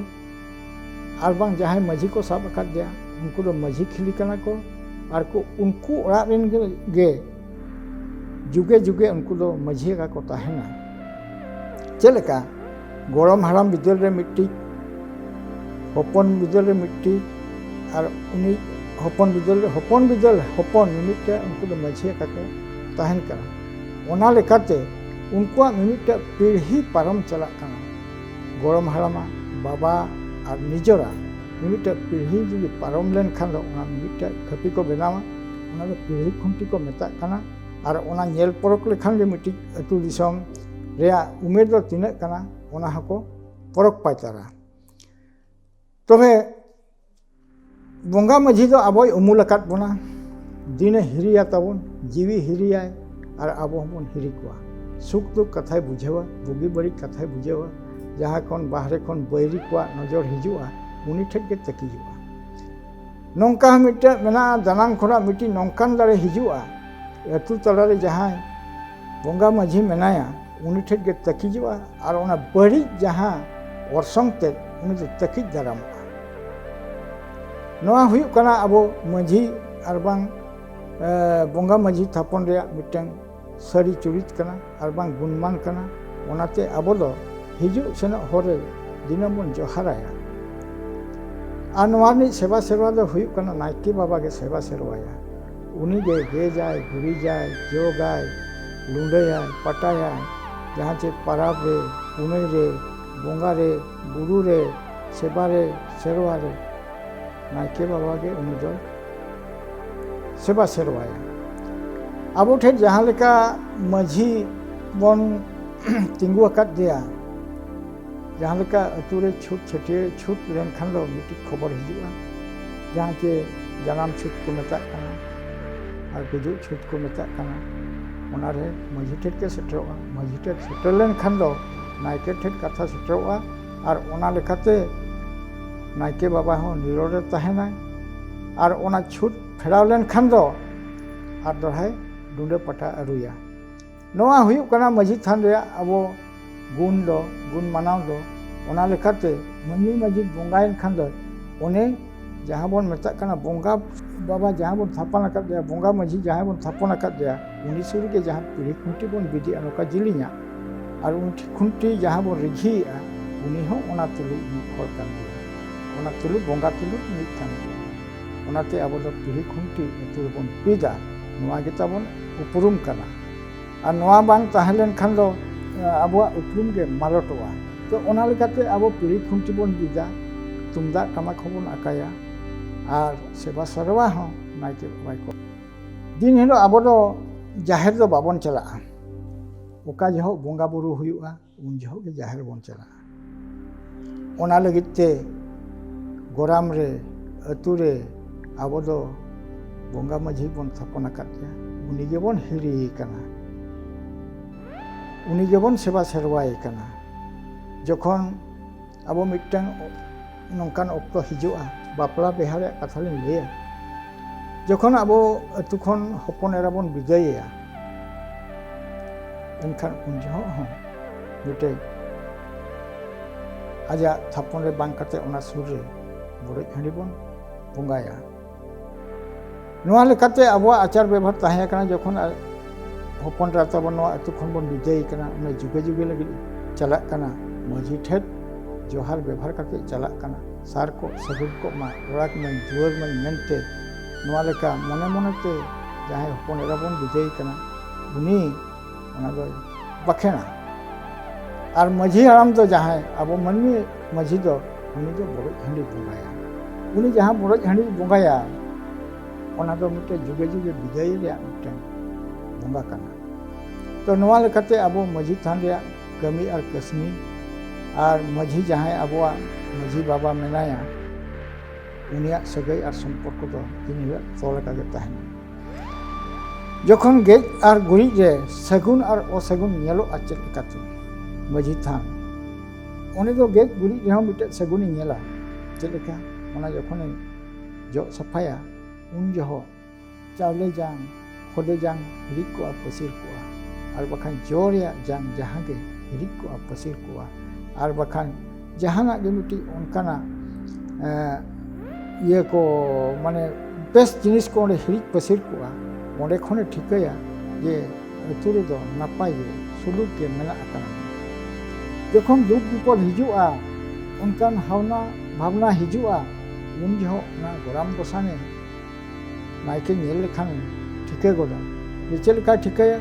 ᱟᱨ ᱵᱟᱝ ᱡᱟᱦᱟᱸᱭ ᱢᱟᱹᱡᱷᱤ ᱠᱚ ᱥᱟᱵ ᱟᱠᱟᱫ ᱜᱮᱭᱟ ᱩᱱᱠᱩ ᱫᱚ ᱢᱟᱹᱡᱷᱤ ᱠᱷᱤᱞᱤ ᱠᱟᱱᱟ ᱠᱚ ᱟᱨ ᱠᱚ ᱩᱱᱠᱩ ᱚᱲᱟᱜ ᱨᱮᱱ ᱜᱮ ᱡᱩᱜᱮ ᱡᱩᱜᱮ ᱩᱱᱠᱩ ᱫᱚ ᱢᱟᱹᱡᱷᱤ ᱞᱮᱠᱟ ᱠᱚ ᱛᱟᱦᱮᱱᱟ ᱪᱮᱫ ᱞᱮᱠᱟ ᱜᱚᱲᱚᱢ ᱦᱟᱲᱟᱢ ᱵᱤᱫᱟᱹᱞ ᱨᱮ ᱢᱤᱫᱴᱤᱡ ᱦᱚᱯᱚᱱ ᱵᱤᱫᱟᱹᱞ ᱨᱮ ᱢᱤᱫᱴᱤᱡ ᱟᱨ ᱩᱱᱤ ᱦᱚᱯᱚᱱ ᱵᱤᱫᱟᱹᱞ ᱦᱚᱯᱚᱱ ᱵᱤᱫᱟᱹᱞ ᱦᱚᱯᱚᱱ ᱢᱤᱢᱤᱫᱴᱮᱱ ᱩᱱᱠᱩ ᱫᱚ ᱢᱟᱹᱡᱷᱤ ᱞᱮᱠᱟ ᱠᱚ ᱛᱟᱦᱮᱱ ᱠᱟᱱᱟ ᱚᱱᱟ ᱞᱮᱠᱟᱛᱮ ᱩᱱᱠᱩᱣᱟᱜ ᱢᱤᱢᱤᱫᱴᱟᱝ ᱯᱤᱲᱦᱤ ᱯᱟᱨᱚᱢ ᱪᱟᱞᱟᱜ ᱠᱟᱱᱟ ᱜᱚᱲᱚᱢ ᱦᱟᱲᱟᱢᱟ ᱵᱟᱵᱟ ᱟᱨ ᱱᱤᱡᱚᱨᱟ ᱢᱤᱢᱤᱫᱴᱟᱝ ᱯᱤᱲᱦᱤ ᱡᱩᱫᱤ ᱯᱟᱨᱚᱢ ᱞᱮᱱᱠᱷᱟᱱ ᱫᱚ ᱚᱱᱟ ᱢᱤᱢᱤᱫᱴᱟᱝ ᱠᱷᱟᱹᱯᱤ ᱠᱚ ᱵᱮᱱᱟᱣᱟ ᱚᱱᱟ ᱫᱚ ᱯᱤᱲᱦᱤ ᱠᱷᱩᱱᱴᱤ ᱠᱚ ᱢᱮᱛᱟᱜ ᱠᱟᱱᱟ ᱟᱨ ᱚᱱᱟ ᱧᱮᱞ ᱯᱚᱨᱚᱠ ᱞᱮᱠᱷᱟᱱ ᱜᱮ ᱢᱤᱫᱴᱤᱡ ᱟᱹᱛᱩ ᱫᱤᱥᱚᱢ ᱨᱮᱭᱟᱜ ᱩᱢᱮᱨ ᱫᱚ ᱛᱤᱱᱟᱹᱜ ᱠᱟᱱᱟ ᱚᱱᱟ ᱦᱚᱸᱠᱚ ᱯᱚᱨᱚᱠ ᱯᱟᱪᱟᱨᱟ ᱛᱚᱵᱮ ᱵᱚᱸᱜᱟ ᱢᱟᱹᱡᱷᱤ ᱫᱚ ᱟᱵᱚᱭ ᱩᱢᱩᱞ ᱟᱠᱟᱫ ᱵᱚᱱᱟ ᱫᱤᱱᱮ ᱦᱤᱨᱤᱭᱟ ᱛᱟᱵᱚᱱ ᱡᱤᱣᱤ ᱦᱤᱨᱤᱭᱟᱭ ᱟᱨ ᱟᱵᱚ ᱦᱚᱸᱵᱚᱱ ᱦᱤᱨᱤ ᱠᱚᱣᱟ ᱥᱩᱠ ᱫᱩᱠ ᱠᱟᱛᱷᱟᱭ ᱵᱩᱡᱷᱟᱹᱣᱟ ᱵᱩᱜᱤ ᱵᱟᱹᱲᱤᱡ ᱠᱟᱛᱷᱟᱭ ᱵᱩᱡᱷᱟᱹᱣᱟ ᱡᱟᱦᱟᱸ ᱠᱷᱚᱱ ᱵᱟᱦᱨᱮ ᱠᱷᱚᱱ ᱵᱟᱹᱭᱨᱤ ᱠᱚᱣᱟᱜ ᱱᱚᱡᱚᱨ ᱦᱤᱡᱩᱜᱼᱟ ᱩᱱᱤ ᱴᱷᱮᱡ ᱜᱮ ᱛᱟᱹᱠᱤᱡᱚᱜᱼᱟ ᱱᱚᱝᱠᱟ ᱦᱚᱸ ᱢᱤᱫᱴᱮᱡ ᱢᱮᱱᱟᱜᱼᱟ ᱫᱟᱱᱟᱝ ᱠᱷᱚᱱᱟᱜ ᱢᱤᱫᱴᱤᱡ ᱱᱚᱝᱠᱟᱱ ᱫᱟᱲᱮ ᱦᱤᱡᱩᱜᱼᱟ ᱟᱹᱛᱩ ᱛᱟᱞᱟᱨᱮ ᱡᱟᱦᱟᱸᱭ ᱵᱚᱸᱜᱟ ᱢᱟᱹᱡᱷᱤ ᱢᱮᱱᱟᱭᱟ ᱩᱱᱤ ᱴᱷᱮᱡ ᱜᱮ ᱛᱟᱹᱠᱤᱡᱚᱜᱼᱟ ᱟᱨ ᱚᱱᱟ ᱵᱟᱹᱲᱤᱡ ᱡᱟᱦᱟᱸ ᱚᱨᱥᱚᱝ ᱛᱮ ᱩᱱᱤ ᱫᱚ ᱛᱟᱹᱠᱤᱡ ᱫᱟᱨᱟᱢᱚᱜᱼᱟ ᱱᱚᱣᱟ ᱦᱩᱭᱩᱜ ᱠᱟᱱᱟ ᱟᱵᱚ ᱢᱟᱺᱡᱷᱤ ᱟᱨ ᱵᱟᱝ ᱵᱚᱸᱜᱟ ᱢᱟᱺᱡᱷᱤ ᱛᱷᱟᱯᱚᱱ ᱨᱮᱭᱟᱜ ᱢᱤᱫᱴᱟᱝ ᱥᱟᱹᱨᱤ ᱪᱩᱨᱤᱛ ᱠᱟᱱᱟ ᱟᱨ ᱵᱟᱝ ᱜᱩᱱᱢᱟᱱ ᱠᱟᱱᱟ ᱚᱱᱟᱛᱮ ᱟᱵᱚ ᱫᱚ ᱦᱤᱡᱩᱜ ᱥᱮᱱᱚᱜ ᱦᱚᱨ ᱨᱮ ᱫᱤᱱᱟᱹᱢ ᱵᱚᱱ ᱡᱚᱦᱟᱨᱟᱭᱟ ᱟᱨ ᱱᱚᱣᱟ ᱨᱤᱱᱤᱡ ᱥᱮᱵᱟ ᱥᱮᱨᱣᱟ ᱫᱚ ᱦᱩᱭᱩᱜ ᱠᱟᱱᱟ ᱱᱟᱭᱠᱮ ᱵᱟᱵᱟ ᱜᱮ ᱥᱮᱵᱟ ᱥᱮᱨᱣᱟᱭᱟ ᱩᱱᱤ ᱜᱮ ᱜᱮᱡᱟᱭ ᱜᱩᱨᱤᱡᱟᱭ ᱡᱚᱜᱟᱭ ᱞᱩᱸᱰᱟᱹᱭᱟᱭ ᱯᱟᱴᱟᱭᱟᱭ ᱡᱟᱦᱟᱸ ᱪᱮᱫ ᱯᱟᱨᱟᱵᱽ ᱨᱮ ᱯᱩᱱᱟᱹᱭ ᱨᱮ ᱵᱚᱸᱜᱟ ᱨᱮ ᱵᱩᱨᱩ ᱨᱮ ᱥᱮᱵᱟ ᱨᱮ ᱥᱮᱨᱣᱟ ᱨᱮ ᱱᱟᱭᱠᱮ ᱵᱟᱵᱟ ᱜᱮ ᱩᱱᱤ ᱫᱚᱭ ᱥᱮᱵᱟ ᱥᱮᱨᱣᱟᱭᱟ ᱟᱵᱚ ᱴᱷᱮᱱ ᱡᱟᱦᱟᱸ ᱞᱮᱠᱟ ᱢᱟᱹᱡᱷᱤ ᱵᱚᱱ ᱛᱤᱸᱜᱩ ᱟᱠᱟᱫᱮᱭᱟ ᱡᱟᱦᱟᱸ ᱞᱮᱠᱟ ᱟᱹᱛᱩ ᱨᱮ ᱪᱷᱩᱛ ᱪᱷᱟᱹᱴᱭᱟᱹᱨ ᱪᱷᱩᱛ ᱞᱮᱱᱠᱷᱟᱱ ᱫᱚ ᱢᱤᱫᱴᱤᱡ ᱠᱷᱚᱵᱚᱨ ᱦᱤᱡᱩᱜᱼᱟ ᱡᱟᱦᱟᱸ ᱪᱮ ᱡᱟᱱᱟᱢ ᱪᱷᱩᱛ ᱠᱚ ᱢᱮᱛᱟᱜ ᱠᱟᱱᱟ ᱟᱨ ᱜᱩᱡᱩᱜ ᱪᱷᱩᱛ ᱠᱚ ᱢᱮᱛᱟᱜ ᱠᱟᱱᱟ ᱚᱱᱟᱨᱮ ᱢᱟᱺᱡᱷᱤ ᱴᱷᱮᱱ ᱜᱮ ᱥᱮᱴᱮᱨᱚᱜᱼᱟ ᱢᱟᱺᱡᱷᱤ ᱴᱷᱮᱱ ᱥᱮᱴᱮᱨ ᱞᱮᱱᱠᱷᱟᱱ ᱫᱚ ᱱᱟᱭᱠᱮ ᱴᱷᱮᱱ ᱠᱟᱛᱷᱟ ᱥᱮᱴᱮᱨᱚᱜᱼᱟ ᱟᱨ ᱚᱱᱟ ᱞᱮᱠᱟᱛᱮ ᱱᱟᱭᱠᱮ ᱵᱟᱵᱟ ᱦᱚᱸ ᱱᱤᱨᱚᱲ ᱨᱮ ᱛᱟᱦᱮᱱᱟᱭ ᱟᱨ ᱚᱱᱟ ᱪᱷᱩᱛ ᱯᱷᱮᱨᱟᱣ ᱞᱮᱱᱠᱷᱟᱱ ᱫᱚ ᱟᱨ ᱫᱚᱲᱦᱟᱭ ᱰᱩᱸᱰᱟᱹ ᱯᱟᱴᱟ ᱟᱹᱨᱩᱭᱟ ᱱᱚᱣᱟ ᱦᱩᱭᱩᱜ ᱠᱟᱱᱟ ᱢᱟᱹᱡᱷᱤ ᱛᱷᱟᱱ ᱨᱮᱭᱟᱜ ᱟᱵᱚ ᱜᱩᱱ ᱫᱚ ᱜᱩᱱ ᱢᱟᱱᱟᱣ ᱫᱚ ᱚᱱᱟ ᱞᱮᱠᱟᱛᱮ ᱢᱟᱹᱱᱢᱤ ᱢᱟᱹᱡᱷᱤ ᱵᱚᱸᱜᱟᱭᱮᱱ ᱠᱷᱟᱱ ᱫᱚ ᱚᱱᱮ ᱡᱟᱦᱟᱸ ᱵᱚᱱ ᱢᱮᱛᱟᱜ ᱠᱟᱱᱟ ᱵᱚᱸᱜᱟ ᱵᱟᱵᱟ ᱡᱟᱦᱟᱸ ᱵᱚᱱ ᱛᱷᱟᱯᱚᱱ ᱟᱠᱟᱫᱮᱭᱟ ᱵᱚᱸᱜᱟ ᱢᱟᱹᱡᱷᱤ ᱡᱟᱦᱟᱸᱭ ᱵᱚᱱ ᱛᱷᱟᱯᱚᱱ ᱟᱠᱟᱫᱮᱭᱟ ᱩᱱᱤ ᱥᱩᱨ ᱨᱮᱜᱮ ᱡᱟᱦᱟᱸ ᱯᱤᱲᱦᱤ ᱠᱷᱩᱱᱴᱤ ᱵᱚᱱ ᱵᱤᱫᱮᱜᱼᱟ ᱱᱚᱝᱠᱟ ᱡᱤᱞᱤᱧᱟ ᱟᱨ ᱩᱱᱤ ᱠᱷᱩᱱᱴᱤ ᱡᱟᱦᱟᱸ ᱵᱚᱱ ᱨᱤᱡᱷᱤᱭᱮᱜᱼᱟ ᱩᱱᱤ ᱦᱚᱸ ᱚᱱᱟ ᱛᱩᱞᱩᱡ ᱢᱤᱫ ᱦᱚᱲ ᱠᱟᱱ ᱜᱮᱭᱟ ᱚᱱᱟ ᱛᱩᱞᱩᱡ ᱵᱚᱸᱜᱟ ᱛᱩᱞᱩᱡ ᱢᱤᱫ ᱠᱟᱱ ᱜᱮᱭᱟ ᱚᱱᱟᱛᱮ ᱟᱵᱚ ᱫᱚ ᱯᱤᱲᱦᱤ ᱠᱷᱩᱱᱴᱤ ᱟᱹᱛᱩ ᱨᱮᱵᱚᱱ ᱯᱤᱫᱟ ᱱᱚᱣᱟ ᱜᱮ ᱛᱟᱵᱚᱱ ᱩᱯᱨᱩᱢ ᱠᱟᱱᱟ ᱟᱨ ᱱᱚᱣᱟ ᱵᱟᱝ ᱛᱟᱦᱮᱸ ᱞᱮᱱᱠᱷᱟᱱ ᱫᱚ ᱟᱵᱚᱣᱟᱜ ᱩᱯᱨᱩᱢ ᱜᱮ ᱢᱟᱞᱚᱴᱚᱜᱼᱟ ᱛᱚ ᱚᱱᱟ ᱞᱮᱠᱟᱛᱮ ᱟᱵᱚ ᱯᱤᱲᱦᱤ ᱠᱷᱩᱱᱴᱤ ᱵᱚᱱ ᱵᱤᱫᱟ ᱛᱩᱢᱫᱟᱜ ᱴᱟᱢᱟᱠ ᱦᱚᱸᱵᱚᱱ ᱟᱠᱟᱭᱟ ᱟᱨ ᱥᱮᱵᱟ ᱥᱮᱨᱣᱟ ᱦᱚᱸ ᱱᱟᱭᱠᱮ ᱵᱟᱵᱟᱭ ᱠᱚ ᱫᱤᱱ ᱦᱤᱞᱳᱜ ᱟᱵᱚ ᱫᱚ ᱡᱟᱦᱮᱨ ᱫᱚ ᱵᱟᱵᱚᱱ ᱪᱟᱞᱟᱜᱼᱟ ᱚᱠᱟ ᱡᱚᱦᱚᱜ ᱵᱚᱸᱜᱟ ᱵᱩᱨᱩ ᱦᱩᱭᱩᱜᱼᱟ ᱩᱱ ᱡᱚᱦᱚᱜ ᱜᱮ ᱡᱟᱦᱮᱨ ᱵᱚᱱ ᱪᱟᱞᱟᱜᱼᱟ ᱚᱱᱟ ᱞᱟᱹᱜᱤᱫ ᱛᱮ ᱜᱚᱨᱟᱢ ᱨᱮ ᱟᱹᱛᱩ ᱨᱮ ᱟᱵᱚ ᱫᱚ ᱵᱚᱸᱜᱟ ᱢᱟᱹᱡᱷᱤ ᱵᱚᱱ ᱛᱷᱟᱯᱚᱱ ᱟᱠᱟᱫ ᱛᱟᱭᱟ ᱩᱱᱤ ᱜᱮᱵᱚᱱ ᱦᱤᱨᱤᱭᱮ ᱠᱟᱱᱟ ᱩᱱᱤ ᱜᱮᱵᱚᱱ ᱥᱮᱵᱟ ᱥᱮᱨᱣᱟᱭᱮ ᱠᱟᱱᱟ ᱡᱚᱠᱷᱚᱱ ᱟᱵᱚ ᱢᱤᱫᱴᱟᱝ ᱱᱚᱝᱠᱟᱱ ᱚᱠᱛᱚ ᱦᱤᱡᱩᱜᱼᱟ ᱵᱟᱯᱞᱟ ᱵᱤᱦᱟ ᱨᱮᱭᱟᱜ ᱠᱟᱛᱷᱟ ᱞᱤᱧ ᱞᱟᱹᱭᱟ ᱡᱚᱠᱷᱚᱱ ᱟᱵᱚ ᱟᱛᱳ ᱠᱷᱚᱱ ᱦᱚᱯᱚᱱ ᱮᱨᱟ ᱵᱚᱱ ᱵᱤᱫᱟᱹᱭᱮᱭᱟ ᱮᱱᱠᱷᱟᱱ ᱩᱱ ᱡᱚᱦᱚᱜ ᱦᱚᱸ ᱢᱤᱫᱴᱮᱡ ᱟᱡᱟᱜ ᱛᱷᱟᱯᱚᱱ ᱨᱮ ᱵᱟᱝ ᱠᱟᱛᱮ ᱚᱱᱟ ᱥᱩᱨ ᱨᱮ ᱵᱚᱰᱚᱡ ᱦᱟᱺᱰᱤ ᱵᱚᱱ ᱵᱚᱸᱜᱟᱭᱟ ᱱᱚᱣᱟ ᱞᱮᱠᱟᱛᱮ ᱟᱵᱚᱣᱟᱜ ᱟᱪᱟᱨ ᱵᱮᱵᱚᱦᱟᱨ ᱛᱟᱦᱮᱸ ᱠᱟᱱᱟ ᱡᱚᱠᱷᱚᱱ ᱦᱚᱯᱚᱱ ᱮᱨᱟ ᱛᱟᱵᱚᱱ ᱱᱚᱣᱟ ᱟᱹᱛᱩ ᱠᱷᱚᱱ ᱵᱚᱱ ᱵᱤᱫᱟᱹᱭ ᱠᱟᱱᱟ ᱚᱱᱟ ᱡᱩᱜᱮ ᱡᱩᱜᱮ ᱞᱟᱹᱜᱤᱫ ᱪᱟᱞᱟᱜ ᱠᱟᱱᱟ ᱢᱟᱹᱡᱷᱤ ᱴᱷᱮᱱ ᱡᱚᱦᱟᱨ ᱵᱮᱵᱚᱦᱟᱨ ᱠᱟᱛᱮ ᱪᱟᱞᱟᱜ ᱠᱟᱱᱟ ᱥᱟᱨ ᱠᱚ ᱥᱟᱹᱜᱩᱱ ᱠᱚᱜ ᱢᱟ ᱚᱲᱟᱜ ᱢᱟᱹᱧ ᱫᱩᱣᱟᱹᱨ ᱢᱟᱹᱧ ᱢᱮᱱᱛᱮ ᱱᱚᱣᱟ ᱞᱮᱠᱟ ᱢᱚᱱᱮ ᱢᱚᱱᱮᱛᱮ ᱡᱟᱦᱟᱸᱭ ᱦᱚᱯᱚᱱ ᱮᱨᱟ ᱵᱚᱱ ᱵᱤᱫᱟᱹᱭ ᱠᱟᱱᱟ ᱩᱱᱤ ᱚᱱᱟ ᱫᱚ ᱵᱟᱠᱷᱮᱬᱟ ᱟᱨ ᱢᱟᱺᱡᱷᱤ ᱦᱟᱲᱟᱢ ᱫᱚ ᱡᱟᱦᱟᱸᱭ ᱟᱵᱚ ᱢᱟᱹᱱᱢᱤ ᱢᱟᱺᱡᱷᱤ ᱫᱚ ᱩᱱᱤ ᱫᱚ ᱵᱚᱰᱚᱡ ᱦᱟᱺᱰᱤ ᱵᱚᱸᱜᱟᱭᱟ ᱩᱱᱤ ᱡᱟᱦᱟᱸ ᱵᱚᱰᱚᱡ ᱦᱟᱺᱰᱤ ᱵᱚᱸᱜᱟᱭᱟ ᱚᱱᱟ ᱫᱚ ᱢᱤᱫᱴᱮᱱ ᱡᱩᱜᱮ ᱡᱩᱜᱮ ᱵᱤᱫᱟᱹᱭ ᱨᱮᱭᱟᱜ ᱢᱤᱫᱴᱮᱱ ᱵᱚᱸᱜᱟ ᱠᱟᱱᱟ ᱛᱚ ᱱᱚᱣᱟ ᱞᱮᱠᱟᱛᱮ ᱟᱵᱚ ᱢᱟᱺᱡᱷᱤ ᱛᱷᱟᱱ ᱨᱮᱭᱟᱜ ᱠᱟᱹᱢᱤ ᱟᱨ ᱠᱟᱹᱥᱱᱤ ᱟᱨ ᱢᱟᱺᱡᱷᱤ ᱡᱟᱦᱟᱸᱭ ᱟᱵᱚᱣᱟᱜ ᱢᱟᱺᱡᱷᱤ ᱵᱟᱵᱟ ᱢᱮᱱᱟᱭᱟ ᱩᱱᱤᱭᱟᱜ ᱥᱟᱹᱜᱟᱹᱭ ᱟᱨ ᱥᱚᱢᱯᱚᱨᱠᱚ ᱫᱚ ᱛᱤᱱ ᱦᱤᱞᱳᱜ ᱛᱚᱞ ᱟᱠᱟᱜᱮ ᱛᱟᱦᱮᱱᱟ ᱡᱚᱠᱷᱚᱱ ᱜᱮᱡ ᱟᱨ ᱜᱩᱨᱤᱡ ᱨᱮ ᱥᱟᱹᱜᱩᱱ ᱟᱨ ᱚᱥᱟᱹᱜᱩᱱ ᱧᱮᱞᱚᱜᱼᱟ ᱪᱮᱫ ᱞᱮᱠᱟᱛᱮ ᱢᱟᱹᱡᱷᱤ ᱛᱷᱟᱱ ᱩᱱᱤ ᱫᱚ ᱜᱮᱡ ᱜᱩᱨᱤᱡ ᱨᱮᱦᱚᱸ ᱢᱤᱫᱴᱮᱡ ᱥᱟᱹᱜᱩᱱᱮ ᱧᱮᱞᱟ ᱪᱮᱫ ᱞᱮᱠᱟ ᱚᱱᱟ ᱡᱚᱠᱷᱚᱱᱮ ᱡᱚᱜ ᱥᱟᱯᱷᱟᱭᱟ ᱩᱱ ᱡᱚᱦᱚᱜ ᱪᱟᱣᱞᱮ ᱡᱟᱝ ᱠᱷᱚᱫᱮ ᱡᱟᱝ ᱦᱤᱨᱤᱡ ᱠᱚᱜᱼᱟ ᱯᱟᱹᱥᱤᱨ ᱠᱚᱜᱼᱟ ᱟᱨ ᱵᱟᱠᱷᱟᱱ ᱡᱚ ᱨᱮᱭᱟᱜ ᱡᱟᱝ ᱡᱟᱦᱟᱸ ᱜᱮ ᱦᱤᱨᱤᱡ ᱠᱚᱜᱼᱟ ᱯᱟᱹᱥᱤᱨ ᱠᱚᱜᱼᱟ ᱟᱨ ᱵᱟᱠᱷᱟᱱ ᱡᱟᱦᱟᱱᱟᱜ ᱜᱮ ᱢᱤᱫᱴᱤᱡ ᱚᱱᱠᱟᱱᱟᱜ ᱤᱭᱟᱹ ᱠᱚ ᱢᱟᱱᱮ ᱵᱮᱥ ᱡᱤᱱᱤᱥ ᱠᱚ ᱚᱸᱰᱮ ᱦᱤᱨᱤᱡ ᱯᱟᱹᱥᱤᱨ ᱠᱚᱜᱼᱟ ᱚᱸᱰᱮ ᱠᱷᱚᱱᱮ ᱴᱷᱤᱠᱟᱹᱭᱟ ᱡᱮ ᱟᱹᱛᱩ ᱨᱮᱫᱚ ᱱᱟᱯᱟᱭ ᱜᱮ ᱥᱩᱞᱩᱠ ᱜᱮ ᱢᱮᱱᱟᱜ ᱟᱠᱟᱱᱟ ᱡᱚᱠᱷᱚᱱ ᱫᱩᱠ ᱵᱤᱯᱚᱫ ᱦᱤᱡᱩᱜᱼᱟ ᱚᱱᱠᱟᱱ ᱦᱟᱣᱱᱟ ᱵᱷᱟᱵᱽᱱᱟ ᱦᱤᱡᱩᱜᱼᱟ ᱩᱱ ᱡᱚᱦᱚᱜ ᱚᱱᱟ ᱜᱚᱨᱟᱢ ᱜᱚᱥᱟᱱᱮ ᱱᱟᱭᱠᱮ ᱧᱮᱞ ᱞᱮᱠᱷᱟᱱ ᱴᱷᱤᱠᱟᱹ ᱜᱚᱫᱟ ᱪᱮᱫ ᱞᱮᱠᱟᱭ ᱴᱷᱤᱠᱟᱹᱭᱟ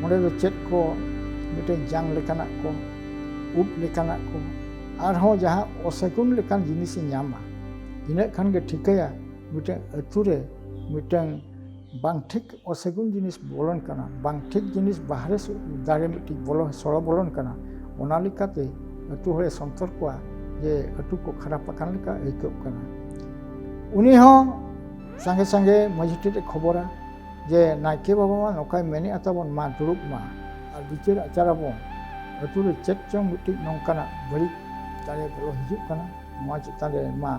ᱚᱸᱰᱮ ᱫᱚ ᱪᱮᱫ ᱠᱚ ᱢᱤᱫᱴᱮᱱ ᱡᱟᱝ ᱞᱮᱠᱟᱱᱟᱜ ᱠᱚ ᱩᱵ ᱞᱮᱠᱟᱱᱟᱜ ᱠᱚ ᱟᱨᱦᱚᱸ ᱡᱟᱦᱟᱸ ᱚᱥᱮᱜᱩᱱ ᱞᱮᱠᱟᱱ ᱡᱤᱱᱤᱥᱮ ᱧᱟᱢᱟ ᱤᱱᱟᱹᱜ ᱠᱷᱟᱱ ᱜᱮ ᱴᱷᱤᱠᱟᱹᱭᱟ ᱢᱤᱫᱴᱟᱝ ᱟᱹᱛᱩ ᱨᱮ ᱢᱤᱫᱴᱟᱝ ᱵᱟᱝ ᱴᱷᱤᱠ ᱚᱥᱮᱜᱩᱱ ᱡᱤᱱᱤᱥ ᱵᱚᱞᱚᱱ ᱠᱟᱱᱟ ᱵᱟᱝ ᱴᱷᱤᱠ ᱡᱤᱱᱤᱥ ᱵᱟᱦᱨᱮ ᱫᱟᱨᱮ ᱢᱤᱫᱴᱤᱡ ᱵᱚᱞᱚ ᱥᱚᱲᱚ ᱵᱚᱞᱚᱱ ᱠᱟᱱᱟ ᱚᱱᱟ ᱞᱮᱠᱟᱛᱮ ᱟᱹᱛᱩ ᱦᱚᱲᱮ ᱥᱚᱱᱛᱚᱨ ᱠᱚᱣᱟ ᱡᱮ ᱟᱹᱛᱩ ᱠᱚ ᱠᱷᱟᱨᱟᱯ ᱟᱠᱟᱱ ᱞᱮᱠᱟ ᱟᱹᱭᱠᱟᱹᱜ ᱠᱟᱱᱟ ᱩᱱᱤ ᱦᱚᱸ ᱥᱟᱸᱜᱮ ᱥᱟᱸᱜᱮ ᱢᱟᱺᱡᱷᱤ ᱴᱷᱮᱱ ᱮ ᱠᱷᱚᱵᱚᱨᱟ ᱡᱮ ᱱᱟᱭᱠᱮ ᱵᱟᱵᱟ ᱢᱟ ᱱᱚᱝᱠᱟᱭ ᱢᱮᱱᱮᱫᱼᱟ ᱛᱟᱵᱚᱱ ᱢᱟ ᱫᱩᱲᱩᱵ ᱢᱟ ᱟᱨ ᱵᱤᱪᱟᱹᱨ ᱟᱪᱟᱨ ᱟᱵᱚᱱ ᱟᱹᱛᱩ ᱨᱮ ᱪᱮᱫ ᱪᱚᱝ ᱢᱤᱫᱴᱤᱡ ᱱᱚᱝᱠᱟᱱᱟᱜ ᱵᱟᱹᱲᱤᱡ ᱫᱟᱲᱮ ᱵᱚᱞᱚ ᱦᱤᱡᱩᱜ ᱠᱟᱱᱟ ᱱᱚᱣᱟ ᱪᱮᱛᱟᱱ ᱨᱮ ᱢᱟ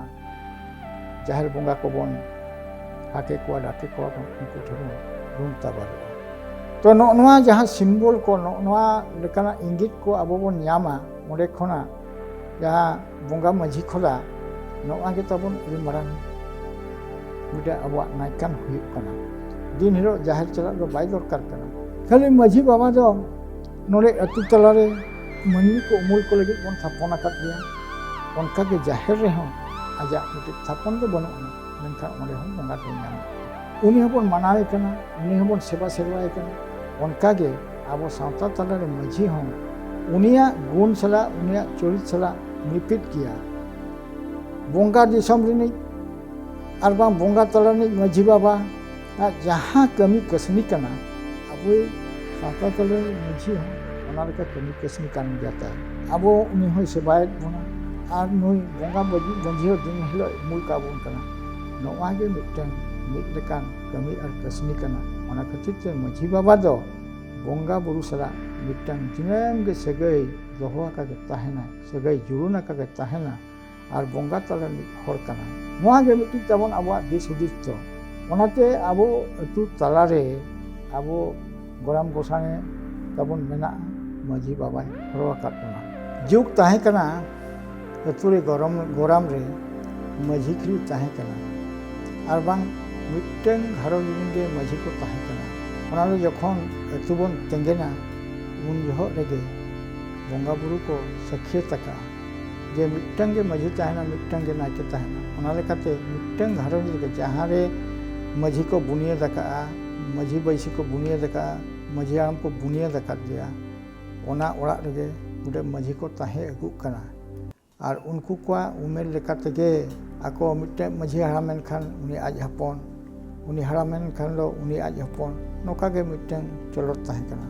ᱡᱟᱦᱮᱨ ᱵᱚᱸᱜᱟ ᱠᱚᱵᱚᱱ ᱦᱟᱠᱮ ᱠᱚᱣᱟ ᱰᱟᱠᱮ ᱠᱚᱣᱟ ᱵᱚᱱ ᱩᱱᱠᱩ ᱴᱷᱮᱱ ᱵᱚᱱ ᱨᱩᱢ ᱛᱟᱵᱟᱨᱚᱜᱼᱟ ᱛᱚ ᱱᱚᱜᱼᱚ ᱱᱚᱣᱟ ᱡᱟᱦᱟᱸ ᱥᱤᱢᱵᱚᱞ ᱠᱚ ᱱᱚᱜᱼᱚ ᱱᱚᱣᱟ ᱞᱮᱠᱟᱱᱟᱜ ᱤᱝᱜᱤᱛ ᱠᱚ ᱟᱵᱚ ᱵᱚᱱ ᱧᱟᱢᱟ ᱚᱸᱰᱮ ᱠᱷᱚᱱᱟᱜ ᱡᱟᱦᱟᱸ ᱵᱚᱸᱜᱟ ᱢᱟᱹᱡᱷᱤ ᱠᱷᱚᱞᱟ ᱱᱚᱣᱟ ᱜᱮ ᱛᱟᱵᱚᱱ ᱟᱹᱰᱤ ᱢᱟᱨᱟᱝ ᱢᱤᱫᱴᱮᱱ ᱟᱵᱚᱣᱟᱜ ᱱᱟᱭᱠᱟᱱ ᱦᱩᱭᱩᱜ ᱠᱟᱱᱟ ᱫᱤᱱ ᱦᱤᱞᱳᱜ ᱡᱟᱦᱮᱨ ᱪᱟᱞᱟᱜ ᱫᱚ ᱵᱟᱭ ᱫᱚᱨᱠᱟᱨ ᱠᱟᱱᱟ ᱠᱷᱟᱹᱞᱤ ᱢᱟᱹᱡᱷᱤ ᱵᱟᱵᱟ ᱫᱚ ᱱᱚᱰᱮ ᱟᱹᱛᱩ ᱛᱟᱞᱟᱨᱮ ᱢᱟᱹᱱᱢᱤ ᱠᱚ ᱩᱢᱩᱞ ᱠᱚ ᱞᱟᱹᱜᱤᱫ ᱵᱚᱱ ᱛᱷᱟᱯᱚᱱ ᱟᱠᱟᱫ ᱜᱮᱭᱟ ᱚᱱᱠᱟᱜᱮ ᱡᱟᱦᱮᱨ ᱨᱮᱦᱚᱸ ᱟᱡᱟᱜ ᱢᱤᱫᱴᱮᱱ ᱛᱷᱟᱯᱚᱱ ᱫᱚ ᱵᱟᱹᱱᱩᱜ ᱟᱱᱟ ᱢᱮᱱᱠᱷᱟᱱ ᱚᱸᱰᱮ ᱦᱚᱸ ᱵᱚᱸᱜᱟ ᱫᱚᱭ ᱧᱟᱢᱟ ᱩᱱᱤ ᱦᱚᱸᱵᱚᱱ ᱢᱟᱱᱟᱣᱮ ᱠᱟᱱᱟ ᱩᱱᱤ ᱦᱚᱸᱵᱚᱱ ᱥᱮᱵᱟ ᱥᱮᱨᱣᱟᱭᱮ ᱠᱟᱱᱟ ᱚᱱᱠᱟᱜᱮ ᱟᱵᱚ ᱥᱟᱶᱛᱟ ᱛᱟᱞᱟᱨᱮ ᱢᱟᱹᱡᱷᱤ ᱦᱚᱸ ᱩᱱᱤᱭᱟᱜ ᱜᱩᱱ ᱥᱟᱞᱟᱜ ᱩᱱᱤᱭᱟᱜ ᱪᱚᱨᱤᱛ ᱥᱟᱞᱟᱜ ᱢᱤᱯᱤᱫ ᱜᱮᱭᱟ ᱵᱚᱸᱜᱟ ᱫᱤᱥᱚᱢ ᱨᱤᱱᱤᱡ ᱟᱨ ᱵᱟᱝ ᱵᱚᱸᱜᱟ ᱛᱟᱞᱟ ᱨᱤᱱᱤᱡ ᱢᱟᱹᱡᱷᱤ ᱵᱟᱵᱟ ᱟᱜ ᱡᱟᱦᱟᱸ ᱠᱟᱹᱢᱤ ᱠᱟᱹᱥᱱᱤ ᱠᱟᱱᱟ ᱟᱵᱚ ᱥᱟᱶᱛᱟ ᱛᱟᱞᱟ ᱨᱤᱱᱤᱡ ᱢᱟᱹᱡᱷᱤ ᱦᱚᱸ ᱚᱱᱟ ᱞᱮᱠᱟ ᱠᱟᱹᱢᱤ ᱠᱟᱹᱥᱱᱤ ᱠᱟᱱ ᱜᱮᱭᱟ ᱛᱟᱭ ᱟᱵᱚ ᱩᱱᱤ ᱦᱚᱸᱭ ᱥᱮᱵᱟᱭᱮᱫ ᱵᱚᱱᱟ ᱟᱨ ᱱᱩᱭ ᱵᱚᱸᱜᱟ ᱢᱟᱹᱡᱷᱤ ᱦᱚᱸ ᱫᱤᱱ ᱦᱤᱞᱳᱜ ᱩᱢᱩᱞ ᱠᱟᱵᱚᱱ ᱠᱟᱱᱟ ᱱᱚᱣᱟ ᱜᱮ ᱢᱤᱫᱴᱟᱝ ᱢᱤᱫ ᱞᱮᱠᱟᱱ ᱠᱟᱹᱢᱤ ᱟᱨ ᱠᱟᱹᱥᱱᱤ ᱠᱟᱱᱟ ᱚᱱᱟ ᱠᱷᱟᱹᱛᱤᱨ ᱛᱮ ᱢᱟᱹᱡᱷᱤ ᱵᱟᱵᱟ ᱫᱚ ᱵᱚᱸᱜᱟ ᱵᱩᱨᱩ ᱥᱟᱞᱟᱜ ᱢᱤᱫᱴᱟᱝ ᱫᱤᱱᱟᱹᱢ ᱜᱮ ᱥᱟᱹᱜᱟᱹᱭ ᱫᱚᱦᱚ ᱟᱠᱟᱜᱮ ᱛᱟᱦᱮᱱᱟ ᱥᱟᱹᱜᱟᱹᱭ ᱡᱩᱲᱩᱱ ᱟᱠᱟᱜᱮ ᱛᱟᱦᱮᱱᱟ ᱟᱨ ᱵᱚᱸᱜᱟ ᱛᱟᱞᱟ ᱨᱤᱱᱤᱡ ᱦᱚᱲ ᱠᱟᱱᱟ ᱱᱚᱣᱟ ᱜᱮ ᱢᱤᱫᱴᱤᱡ ᱛᱟᱵᱚᱱ ᱟᱵᱚᱣᱟᱜ ᱫᱤᱥ ᱦᱩᱫᱤᱥ ᱫᱚ ᱚᱱᱟᱛᱮ ᱟᱵᱚ ᱟᱹᱛᱩ ᱛᱟᱞᱟᱨᱮ ᱟᱵᱚ ᱜᱚᱲᱟᱢ ᱜᱚᱥᱟᱬᱮ ᱛᱟᱵᱚᱱ ᱢᱮᱱᱟᱜᱼᱟ ᱢᱟᱺᱡᱷᱤ ᱵᱟᱵᱟᱭ ᱦᱚᱨᱚ ᱟᱠᱟᱫ ᱵᱚᱱᱟ ᱡᱩᱜᱽ ᱛᱟᱦᱮᱸ ᱠᱟᱱᱟ ᱟᱹᱛᱩ ᱨᱮ ᱜᱚᱨᱚᱢ ᱜᱚᱨᱟᱢ ᱨᱮ ᱢᱟᱺᱡᱷᱤ ᱠᱷᱤᱨᱤ ᱛᱟᱦᱮᱸ ᱠᱟᱱᱟ ᱟᱨ ᱵᱟᱝ ᱢᱤᱫᱴᱟᱝ ᱜᱷᱟᱨᱚᱸᱡᱽ ᱨᱮᱱ ᱜᱮ ᱢᱟᱺᱡᱷᱤ ᱠᱚ ᱛᱟᱦᱮᱸ ᱠᱟᱱᱟ ᱚᱱᱟ ᱫᱚ ᱡᱚᱠᱷᱚᱱ ᱟᱹᱛᱩ ᱵᱚᱱ ᱛᱮᱸᱜᱮᱱᱟ ᱩᱱ ᱡᱚᱦᱚᱜ ᱨᱮᱜᱮ ᱵᱚᱸᱜᱟ ᱵᱩᱨᱩ ᱠᱚ ᱥᱟᱹᱠᱷᱭᱟᱹᱛ ᱟᱠᱟᱜᱼᱟ ᱡᱮ ᱢᱤᱫᱴᱟᱝ ᱜᱮ ᱢᱟᱺᱡᱷᱤ ᱛᱟᱦᱮᱱᱟ ᱢᱤᱫᱴᱟᱝ ᱜᱮ ᱱᱟᱭᱠᱮ ᱛᱟᱦᱮᱱᱟ ᱚᱱᱟ ᱞᱮᱠᱟᱛᱮ ᱢᱤᱫᱴᱟᱝ ᱜᱷᱟᱨᱚᱸᱡᱽ ᱨᱮᱜᱮ ᱡᱟᱦᱟᱸ ᱨᱮ ᱢᱟᱺᱡᱷᱤ ᱠᱚ ᱵᱩᱱᱤᱭᱟᱹᱫ ᱟᱠᱟᱜᱼᱟ ᱢᱟᱹᱡᱷᱤ ᱵᱟᱹᱭᱥᱤ ᱠᱚ ᱵᱩᱱᱤᱭᱟᱹᱫ ᱟᱠᱟᱫᱼᱟ ᱢᱟᱹᱡᱷᱤ ᱦᱟᱲᱟᱢ ᱠᱚ ᱵᱩᱱᱤᱭᱟᱹᱫ ᱟᱠᱟᱫᱮᱭᱟ ᱚᱱᱟ ᱚᱲᱟᱜ ᱨᱮᱜᱮ ᱜᱚᱰᱮᱛ ᱢᱟᱹᱡᱷᱤ ᱠᱚ ᱛᱟᱦᱮᱸ ᱟᱹᱜᱩᱜ ᱠᱟᱱᱟ ᱟᱨ ᱩᱱᱠᱩ ᱠᱚᱣᱟᱜ ᱩᱢᱮᱨ ᱞᱮᱠᱟ ᱛᱮᱜᱮ ᱟᱠᱚ ᱢᱤᱫᱴᱮᱱ ᱢᱟᱹᱡᱷᱤ ᱦᱟᱲᱟᱢ ᱮᱱᱠᱷᱟᱱ ᱩᱱᱤ ᱟᱡ ᱦᱚᱯᱚᱱ ᱩᱱᱤ ᱦᱟᱲᱟᱢ ᱮᱱᱠᱷᱟᱱ ᱫᱚ ᱩᱱᱤ ᱟᱡ ᱦᱚᱯᱚᱱ ᱱᱚᱝᱠᱟ ᱜᱮ ᱢᱤᱫᱴᱮᱱ ᱪᱚᱞᱚᱛ ᱛᱟᱦᱮᱸ ᱠᱟᱱᱟ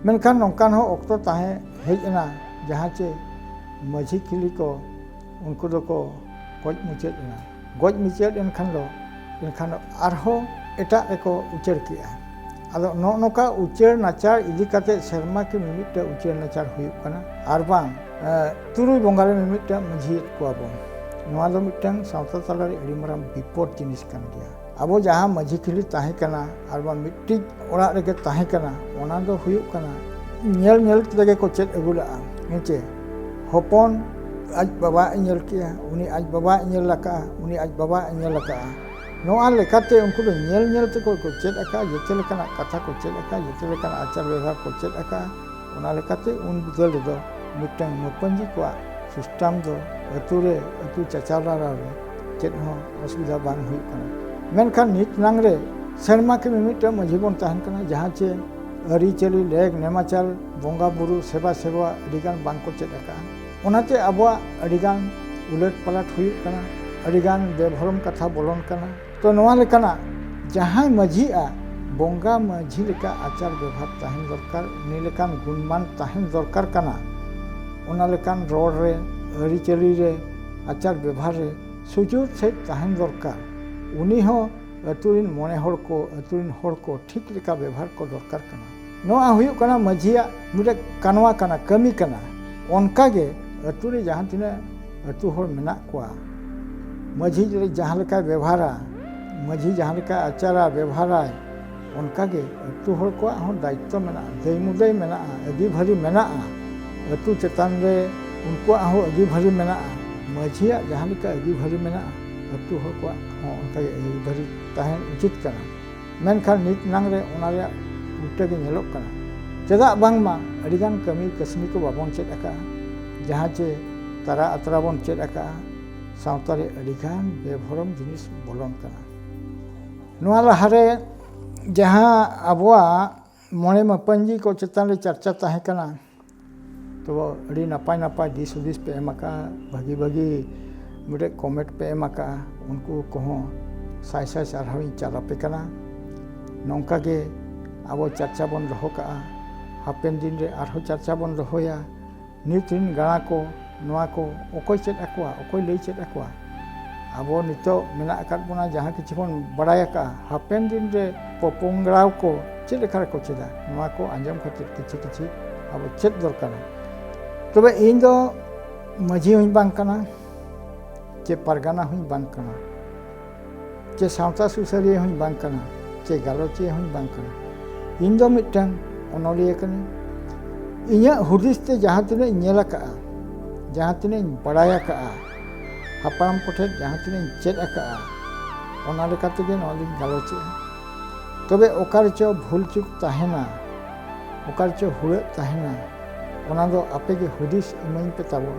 ᱢᱮᱱᱠᱷᱟᱱ ᱱᱚᱝᱠᱟᱱ ᱦᱚᱸ ᱚᱠᱛᱚ ᱛᱟᱦᱮᱸ ᱦᱮᱡ ᱮᱱᱟ ᱡᱟᱦᱟᱸ ᱪᱮ ᱢᱟᱹᱡᱷᱤ ᱠᱤᱞᱤ ᱠᱚ ᱩᱱᱠᱩ ᱫᱚᱠᱚ ᱜᱚᱡ ᱢᱩᱪᱟᱹᱫ ᱮᱱᱟ ᱜᱚᱡ ᱢᱩᱪᱟᱹᱫ ᱮᱱ ᱠᱷᱟᱱ ᱫᱚ ᱮᱱᱠᱷᱟᱱ ᱫᱚ ᱟᱨᱦᱚᱸ ᱮᱴᱟᱜ ᱨᱮᱠᱚ ᱩᱪᱟᱹᱲ ᱠᱮᱜᱼᱟ ᱟᱫᱚ ᱱᱚᱜᱼᱚ ᱱᱚᱝᱠᱟ ᱩᱪᱟᱹᱲ ᱱᱟᱪᱟᱨ ᱤᱫᱤ ᱠᱟᱛᱮ ᱥᱮᱨᱢᱟ ᱠᱤ ᱢᱤᱢᱤᱫᱴᱟᱝ ᱩᱪᱟᱹᱲ ᱱᱟᱪᱟᱨ ᱦᱩᱭᱩᱜ ᱠᱟᱱᱟ ᱟᱨ ᱵᱟᱝ ᱛᱩᱨᱩᱭ ᱵᱚᱸᱜᱟ ᱨᱮ ᱢᱤᱢᱤᱫᱴᱟᱝ ᱢᱟᱹᱡᱷᱤᱭᱮᱫ ᱠᱚᱣᱟ ᱵᱚᱱ ᱱᱚᱣᱟ ᱫᱚ ᱢᱤᱫᱴᱟᱝ ᱥᱟᱶᱛᱟ ᱛᱟᱞᱟ ᱨᱮ ᱟᱹᱰᱤ ᱢᱟᱨᱟᱝ ᱵᱤᱯᱚᱫ ᱡᱤᱱᱤᱥ ᱠᱟᱱ ᱜᱮᱭᱟ ᱟᱵᱚ ᱡᱟᱦᱟᱸ ᱢᱟᱹᱡᱷᱤ ᱠᱷᱤᱞᱤ ᱛᱟᱦᱮᱸ ᱠᱟᱱᱟ ᱟᱨ ᱵᱟᱝ ᱢᱤᱫᱴᱤᱡ ᱚᱲᱟᱜ ᱨᱮᱜᱮ ᱛᱟᱦᱮᱸ ᱠᱟᱱᱟ ᱚᱱᱟ ᱫᱚ ᱦᱩᱭᱩᱜ ᱠᱟᱱᱟ ᱧᱮᱞ ᱧᱮᱞ ᱛᱮᱜᱮ ᱠᱚ ᱪᱮᱫ ᱟᱹᱜᱩ ᱞᱟᱜᱼᱟ ᱦᱮᱸᱪᱮ ᱦᱚᱯᱚᱱ ᱟᱡ ᱵᱟᱵᱟ ᱮ ᱧᱮᱞ ᱠᱮᱜᱼᱟ ᱩᱱᱤ ᱟᱡ ᱵᱟᱵᱟ ᱮ ᱧᱮᱞ ᱟᱠᱟᱜᱼᱟ ᱩᱱᱤ ᱟᱡ ᱵᱟᱵᱟ ᱮ ᱧᱮᱞ ᱟᱠᱟᱜᱼᱟ ᱱᱚᱣᱟ ᱞᱮᱠᱟᱛᱮ ᱩᱱᱠᱩ ᱫᱚ ᱧᱮᱞ ᱧᱮᱞ ᱛᱮᱠᱚ ᱠᱚ ᱪᱮᱫ ᱟᱠᱟᱜᱼᱟ ᱡᱚᱛᱚ ᱞᱮᱠᱟᱱᱟᱜ ᱠᱟᱛᱷᱟ ᱠᱚ ᱪᱮᱫ ᱟᱠᱟᱜᱼᱟ ᱡᱚᱛᱚ ᱞᱮᱠᱟᱱᱟᱜ ᱟᱪᱟᱨ ᱵᱮᱵᱷᱟᱨ ᱠᱚ ᱪᱮᱫ ᱟᱠᱟᱜᱼᱟ ᱚᱱᱟ ᱞᱮᱠᱟᱛᱮ ᱩᱱ ᱵᱤᱫᱟᱹᱞ ᱨᱮᱫᱚ ᱢᱤᱫᱴᱟᱝ ᱢᱟᱹᱯᱟᱹᱧᱡᱤ ᱠᱚᱣᱟᱜ ᱥᱤᱥᱴᱟᱢ ᱫᱚ ᱟᱹᱛᱩ ᱨᱮ ᱟᱹᱛᱩ ᱪᱟᱪᱟᱞᱟᱣ ᱨᱮ ᱪᱮᱫ ᱦᱚᱸ ᱚᱥᱩᱵᱤᱫᱷᱟ ᱵᱟᱝ ᱦᱩᱭᱩᱜ ᱠᱟᱱᱟ ᱢᱮᱱᱠᱷᱟᱱ ᱱᱤᱛ ᱱᱟᱝ ᱨᱮ ᱥᱮᱨᱢᱟ ᱠᱤ ᱢᱤᱢᱤᱫᱴᱟᱝ ᱢᱟᱺᱡᱷᱤ ᱵᱚᱱ ᱛᱟᱦᱮᱱ ᱠᱟᱱᱟ ᱡᱟᱦᱟᱸ ᱪᱮ ᱟᱹᱨᱤᱪᱟᱹᱞᱤ ᱞᱮᱠ ᱱᱮᱢᱟᱪᱟᱞ ᱵᱚᱸᱜᱟ ᱵᱩᱨᱩ ᱥᱮᱵᱟ ᱥᱮᱵᱟ ᱟᱹᱰᱤᱜᱟᱱ ᱵᱟᱝᱠᱚ ᱪᱮᱫ ᱟᱠᱟᱫᱼᱟ ᱚᱱᱟᱛᱮ ᱟᱵᱚᱣᱟᱜ ᱟᱹᱰᱤᱜᱟᱱ ᱩᱞᱟᱹᱴ ᱯᱟᱞᱟᱴ ᱦᱩᱭᱩᱜ ᱠᱟᱱᱟ ᱟᱹᱰᱤᱜᱟᱱ ᱵᱮᱵᱷᱚᱨᱚᱢ ᱠᱟᱛᱷᱟ ᱵᱚᱞᱚᱱ ᱠᱟᱱᱟ ᱛᱚ ᱱᱚᱣᱟ ᱞᱮᱠᱟᱱᱟᱜ ᱡᱟᱦᱟᱸᱭ ᱢᱟᱺᱡᱷᱤᱜᱼᱟ ᱵᱚᱸᱜᱟ ᱢᱟᱺᱡᱷᱤ ᱞᱮᱠᱟ ᱟᱪᱟᱨ ᱵᱮᱵᱷᱟᱨ ᱛᱟᱦᱮᱱ ᱫᱚᱨᱠᱟᱨ ᱩᱱᱤ ᱞᱮᱠᱟᱱ ᱜᱩᱱᱢᱟᱱ ᱛᱟᱦᱮᱱ ᱫᱚᱨᱠᱟᱨ ᱠᱟᱱᱟ ᱚᱱᱟ ᱞᱮᱠᱟᱱ ᱨᱚᱲ ᱨᱮ ᱟᱹᱨᱤᱪᱟᱹᱞᱤ ᱨᱮ ᱟᱪᱟᱨ ᱵᱮᱵᱷᱟᱨ ᱨᱮ ᱥᱩᱪᱩᱨ ᱥᱮᱡ ᱛᱟᱦᱮᱱ ᱫᱚᱨᱠᱟᱨ ᱩᱱᱤ ᱦᱚᱸ ᱟᱹᱛᱩ ᱨᱮᱱ ᱢᱚᱬᱮ ᱦᱚᱲ ᱠᱚ ᱟᱹᱛᱩ ᱨᱮᱱ ᱦᱚᱲ ᱠᱚ ᱴᱷᱤᱠ ᱞᱮᱠᱟ ᱵᱮᱵᱷᱟᱨ ᱠᱚ ᱫᱚᱨᱠᱟᱨ ᱠᱟᱱᱟ ᱱᱚᱣᱟ ᱦᱩᱭᱩᱜ ᱠᱟᱱᱟ ᱢᱟᱹᱡᱷᱤᱭᱟᱜ ᱢᱤᱫᱴᱮᱱ ᱠᱟᱱᱣᱟ ᱠᱟᱱᱟ ᱠᱟᱹᱢᱤ ᱠᱟᱱᱟ ᱚᱱᱠᱟ ᱜᱮ ᱟᱹᱛᱩ ᱨᱮ ᱡᱟᱦᱟᱸ ᱛᱤᱱᱟᱹᱜ ᱟᱹᱛᱩ ᱦᱚᱲ ᱢᱮᱱᱟᱜ ᱠᱚᱣᱟ ᱢᱟᱹᱡᱷᱤ ᱡᱟᱦᱟᱸ ᱞᱮᱠᱟᱭ ᱵᱮᱵᱷᱟᱨᱟ ᱢᱟᱹᱡᱷᱤ ᱡᱟᱦᱟᱸ ᱞᱮᱠᱟᱭ ᱟᱪᱟᱨᱟ ᱵᱮᱵᱷᱟᱨᱟᱭ ᱚᱱᱠᱟ ᱜᱮ ᱟᱹᱛᱩ ᱦᱚᱲ ᱠᱚᱣᱟᱜ ᱦᱚᱸ ᱫᱟᱭᱤᱛᱛᱚ ᱢᱮᱱᱟᱜᱼᱟ ᱫᱟᱹᱭ ᱢᱩᱫᱟᱹᱭ ᱢᱮᱱᱟᱜᱼᱟ ᱟᱹᱰᱤ ᱵᱷᱟᱹᱨᱤ ᱢᱮᱱᱟᱜᱼᱟ ᱟᱹᱛᱩ ᱪᱮᱛᱟᱱ ᱨᱮ ᱩᱱᱠᱩᱣᱟᱜ ᱦᱚᱸ ᱟᱹᱰᱤ ᱵᱷᱟᱹᱨᱤ ᱢᱮᱱᱟᱜᱼᱟ ᱢᱟᱹᱡᱷᱤᱭᱟᱜ ᱡᱟᱦᱟᱸ ᱞᱮᱠᱟ ᱟᱹᱰᱤ ᱵᱷᱟᱹᱨᱤ ᱢᱮᱱᱟᱜᱼᱟ ᱟᱹᱛᱩ ᱦᱚᱲ ᱠᱚᱣᱟᱜ ᱦᱚᱸ ᱚᱱᱠᱟ ᱜᱮ ᱟᱹᱰᱤ ᱵᱷᱟᱹᱨᱤ ᱛᱟᱦᱮᱱ ᱩᱪᱤᱛ ᱠᱟᱱᱟ ᱢᱮᱱᱠᱷᱟᱱ ᱱᱤᱛ ᱱᱟᱝ ᱨᱮ ᱚᱱᱟ ᱨᱮᱭᱟᱜ ᱩᱞᱴᱟᱹ ᱜᱮ ᱧᱮᱞᱚᱜ ᱠᱟᱱᱟ ᱪᱮᱫᱟᱜ ᱵᱟᱝᱢᱟ ᱟᱹᱰᱤ ᱜᱟᱱ ᱠᱟᱹᱢᱤ ᱠᱟᱹᱥᱱᱤ ᱠᱚ ᱵᱟᱵᱚᱱ ᱪᱮᱫ ᱟᱠᱟᱫᱼᱟ ᱡᱟᱦᱟᱸ ᱪᱮ ᱛᱟᱨᱟ ᱟᱛᱨᱟ ᱵᱚᱱ ᱪᱮᱫ ᱟᱠᱟᱫᱼᱟ ᱥᱟᱶᱛᱟ ᱨᱮ ᱟᱹᱰᱤ ᱜᱟᱱ ᱵᱮᱼᱵᱷᱚᱨᱚᱢ ᱡᱤᱱᱤᱥ ᱵᱚᱞᱚᱱ ᱠᱟᱱᱟ ᱱᱚᱣᱟ ᱞᱟᱦᱟᱨᱮ ᱡᱟᱦᱟᱸ ᱟᱵᱚᱣᱟᱜ ᱢᱚᱬᱮ ᱢᱟᱯᱟᱹᱧᱡᱤ ᱠᱚ ᱪᱮᱛᱟᱱ ᱨᱮ ᱪᱟᱨᱪᱟ ᱛᱟᱦᱮᱸ ᱠᱟᱱᱟ ᱛᱚ ᱟᱹᱰᱤ ᱱᱟᱯᱟᱭ ᱱᱟᱯᱟᱭ ᱫᱤᱥ ᱦᱩᱫᱤᱥ ᱯᱮ ᱮᱢ ᱟᱠᱟᱫᱼᱟ ᱵᱷᱟᱹᱜᱤ ᱵᱷᱟᱹᱜᱤ ᱢᱤᱫᱴᱮᱡ ᱠᱚᱢᱮᱱᱴ ᱯᱮ ᱮᱢ ᱟᱠᱟᱫᱼᱟ ᱩᱱᱠᱩ ᱠᱚᱦᱚᱸ ᱥᱟᱭ ᱥᱟᱭ ᱥᱟᱨᱦᱟᱣ ᱤᱧ ᱪᱟᱞ ᱟᱯᱮ ᱠᱟᱱᱟ ᱱᱚᱝᱠᱟ ᱜᱮ ᱟᱵᱚ ᱪᱟᱨᱪᱟ ᱵᱚᱱ ᱫᱚᱦᱚ ᱠᱟᱜᱼᱟ ᱦᱟᱯᱮᱱ ᱫᱤᱱ ᱨᱮ ᱟᱨᱦᱚᱸ ᱪᱟᱨᱪᱟ ᱵᱚᱱ ᱫᱚᱦᱚᱭᱟ ᱱᱤᱛ ᱨᱮᱱ ᱜᱟᱬᱟ ᱠᱚ ᱱᱚᱣᱟ ᱠᱚ ᱚᱠᱚᱭ ᱪᱮᱫ ᱟᱠᱚᱣᱟ ᱚᱠᱚᱭ ᱞᱟᱹᱭ ᱪᱮᱫ ᱟᱠᱚᱣᱟ ᱟᱵᱚ ᱱᱤᱛᱚᱜ ᱢᱮᱱᱟᱜ ᱟᱠᱟᱫ ᱵᱚᱱᱟ ᱡᱟᱦᱟᱸ ᱠᱤᱪᱷᱩ ᱵᱚᱱ ᱵᱟᱲᱟᱭ ᱟᱠᱟᱫᱼᱟ ᱦᱟᱯᱮᱱ ᱫᱤᱱ ᱨᱮ ᱯᱚᱯᱚᱝᱲᱟ ᱠᱚ ᱪᱮᱫ ᱞᱮᱠᱟ ᱨᱮᱠᱚ ᱪᱮᱫᱟ ᱱᱚᱣᱟ ᱠᱚ ᱟᱸᱡᱚᱢ ᱠᱟᱛᱮ ᱠᱤᱪᱷᱩ ᱠᱤᱪᱷᱩ ᱟᱵᱚ ᱪᱮᱫ ᱫᱚᱨᱠᱟᱨᱟ ᱛᱚᱵᱮ ᱤᱧ ᱫᱚ ᱢᱟᱹᱡᱷᱤ ᱦᱚᱸᱧ ᱵᱟᱝ ᱠᱟᱱᱟ ᱪᱮ ᱯᱟᱨᱜᱟᱱᱟ ᱦᱚᱸᱧ ᱵᱟᱝ ᱠᱟᱱᱟ ᱪᱮ ᱥᱟᱶᱛᱟ ᱥᱩᱥᱟᱹᱨᱤᱭᱟᱹ ᱦᱚᱸᱧ ᱵᱟᱝ ᱠᱟᱱᱟ ᱪᱮ ᱜᱟᱞᱚᱪᱤᱭᱟᱹ ᱦᱚᱸᱧ ᱵᱟᱝ ᱠᱟᱱᱟ ᱤᱧ ᱫᱚ ᱢᱤᱫᱴᱟᱝ ᱚᱱᱚᱞᱤᱭᱟᱹ ᱠᱟᱹᱱᱟᱹᱧ ᱤᱧᱟᱹᱜ ᱦᱩᱫᱤᱥ ᱛᱮ ᱡᱟᱦᱟᱸ ᱛᱤᱱᱟᱹᱜ ᱤᱧ ᱧᱮᱞ ᱟᱠᱟᱜᱼᱟ ᱡᱟᱦᱟᱸ ᱛᱤᱱᱟᱹᱜ ᱤᱧ ᱵᱟᱲᱟᱭ ᱟᱠᱟᱜᱼᱟ ᱦᱟᱯᱲᱟᱢ ᱠᱚᱴᱷᱮᱱ ᱡᱟᱦᱟᱸ ᱛᱤᱱᱟᱹᱜ ᱤᱧ ᱪᱮᱫ ᱟᱠᱟᱜᱼᱟ ᱚᱱᱟ ᱞᱮᱠᱟ ᱛᱮᱜᱮ ᱱᱚᱣᱟ ᱫᱚᱧ ᱜᱟᱞᱚᱪᱮᱜᱼᱟ ᱛᱚᱵᱮ ᱚᱠᱟ ᱨᱮᱪᱚ ᱵᱷᱩᱞ ᱪᱩᱠ ᱛᱟᱦᱮᱱᱟ ᱚᱠᱟ ᱨᱮᱪᱚ ᱦᱩᱲᱟᱹᱜ ᱛᱟᱦᱮᱱᱟ ᱚᱱᱟ ᱫᱚ ᱟᱯᱮ ᱜᱮ ᱦᱩᱫᱤᱥ ᱤᱢᱟᱹᱧ ᱯᱮ ᱛᱟᱵᱚᱱ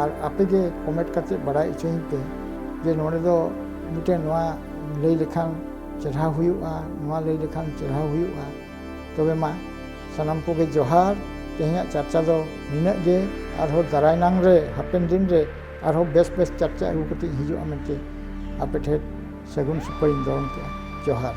ᱟᱨ ᱟᱯᱮ ᱜᱮ ᱠᱚᱢᱮᱱᱴ ᱠᱟᱛᱮ ᱵᱟᱲᱟᱭ ᱦᱚᱪᱚᱧ ᱯᱮ ᱡᱮ ᱱᱚᱰᱮ ᱫᱚ ᱢᱤᱫᱴᱮᱱ ᱱᱚᱣᱟ ᱞᱟᱹᱭ ᱞᱮᱠᱷᱟᱱ ᱪᱮᱨᱦᱟ ᱦᱩᱭᱩᱜᱼᱟ ᱱᱚᱣᱟ ᱞᱟᱹᱭ ᱞᱮᱠᱷᱟᱱ ᱪᱮᱨᱦᱟ ᱦᱩᱭᱩᱜᱼᱟ ᱛᱚᱵᱮ ᱢᱟ ᱥᱟᱱᱟᱢ ᱠᱚᱜᱮ ᱡᱚᱦᱟᱨ ᱛᱮᱦᱮᱧᱟᱜ ᱪᱟᱨᱪᱟ ᱫᱚ ᱱᱤᱱᱟᱹᱜ ᱜᱮ ᱟᱨᱦᱚᱸ ᱫᱟᱨᱟᱭ ᱱᱟᱝ ᱨᱮ ᱦᱟᱯᱮᱱ ᱫᱤᱱ ᱨᱮ ᱟᱨᱦᱚᱸ ᱵᱮᱥ ᱵᱮᱥ ᱪᱟᱨᱪᱟ ᱟᱹᱜᱩ ᱠᱟᱛᱮ ᱦᱤᱡᱩᱜᱼᱟ ᱢᱮᱱᱛᱮ ᱟᱯᱮ ᱴᱷᱮᱱ ᱥᱟᱹᱜᱩᱱ ᱥᱩᱠᱷᱚᱭᱤᱧ ᱫᱚᱦᱚ ᱠᱮᱫᱼᱟ ᱡᱚᱦᱟᱨ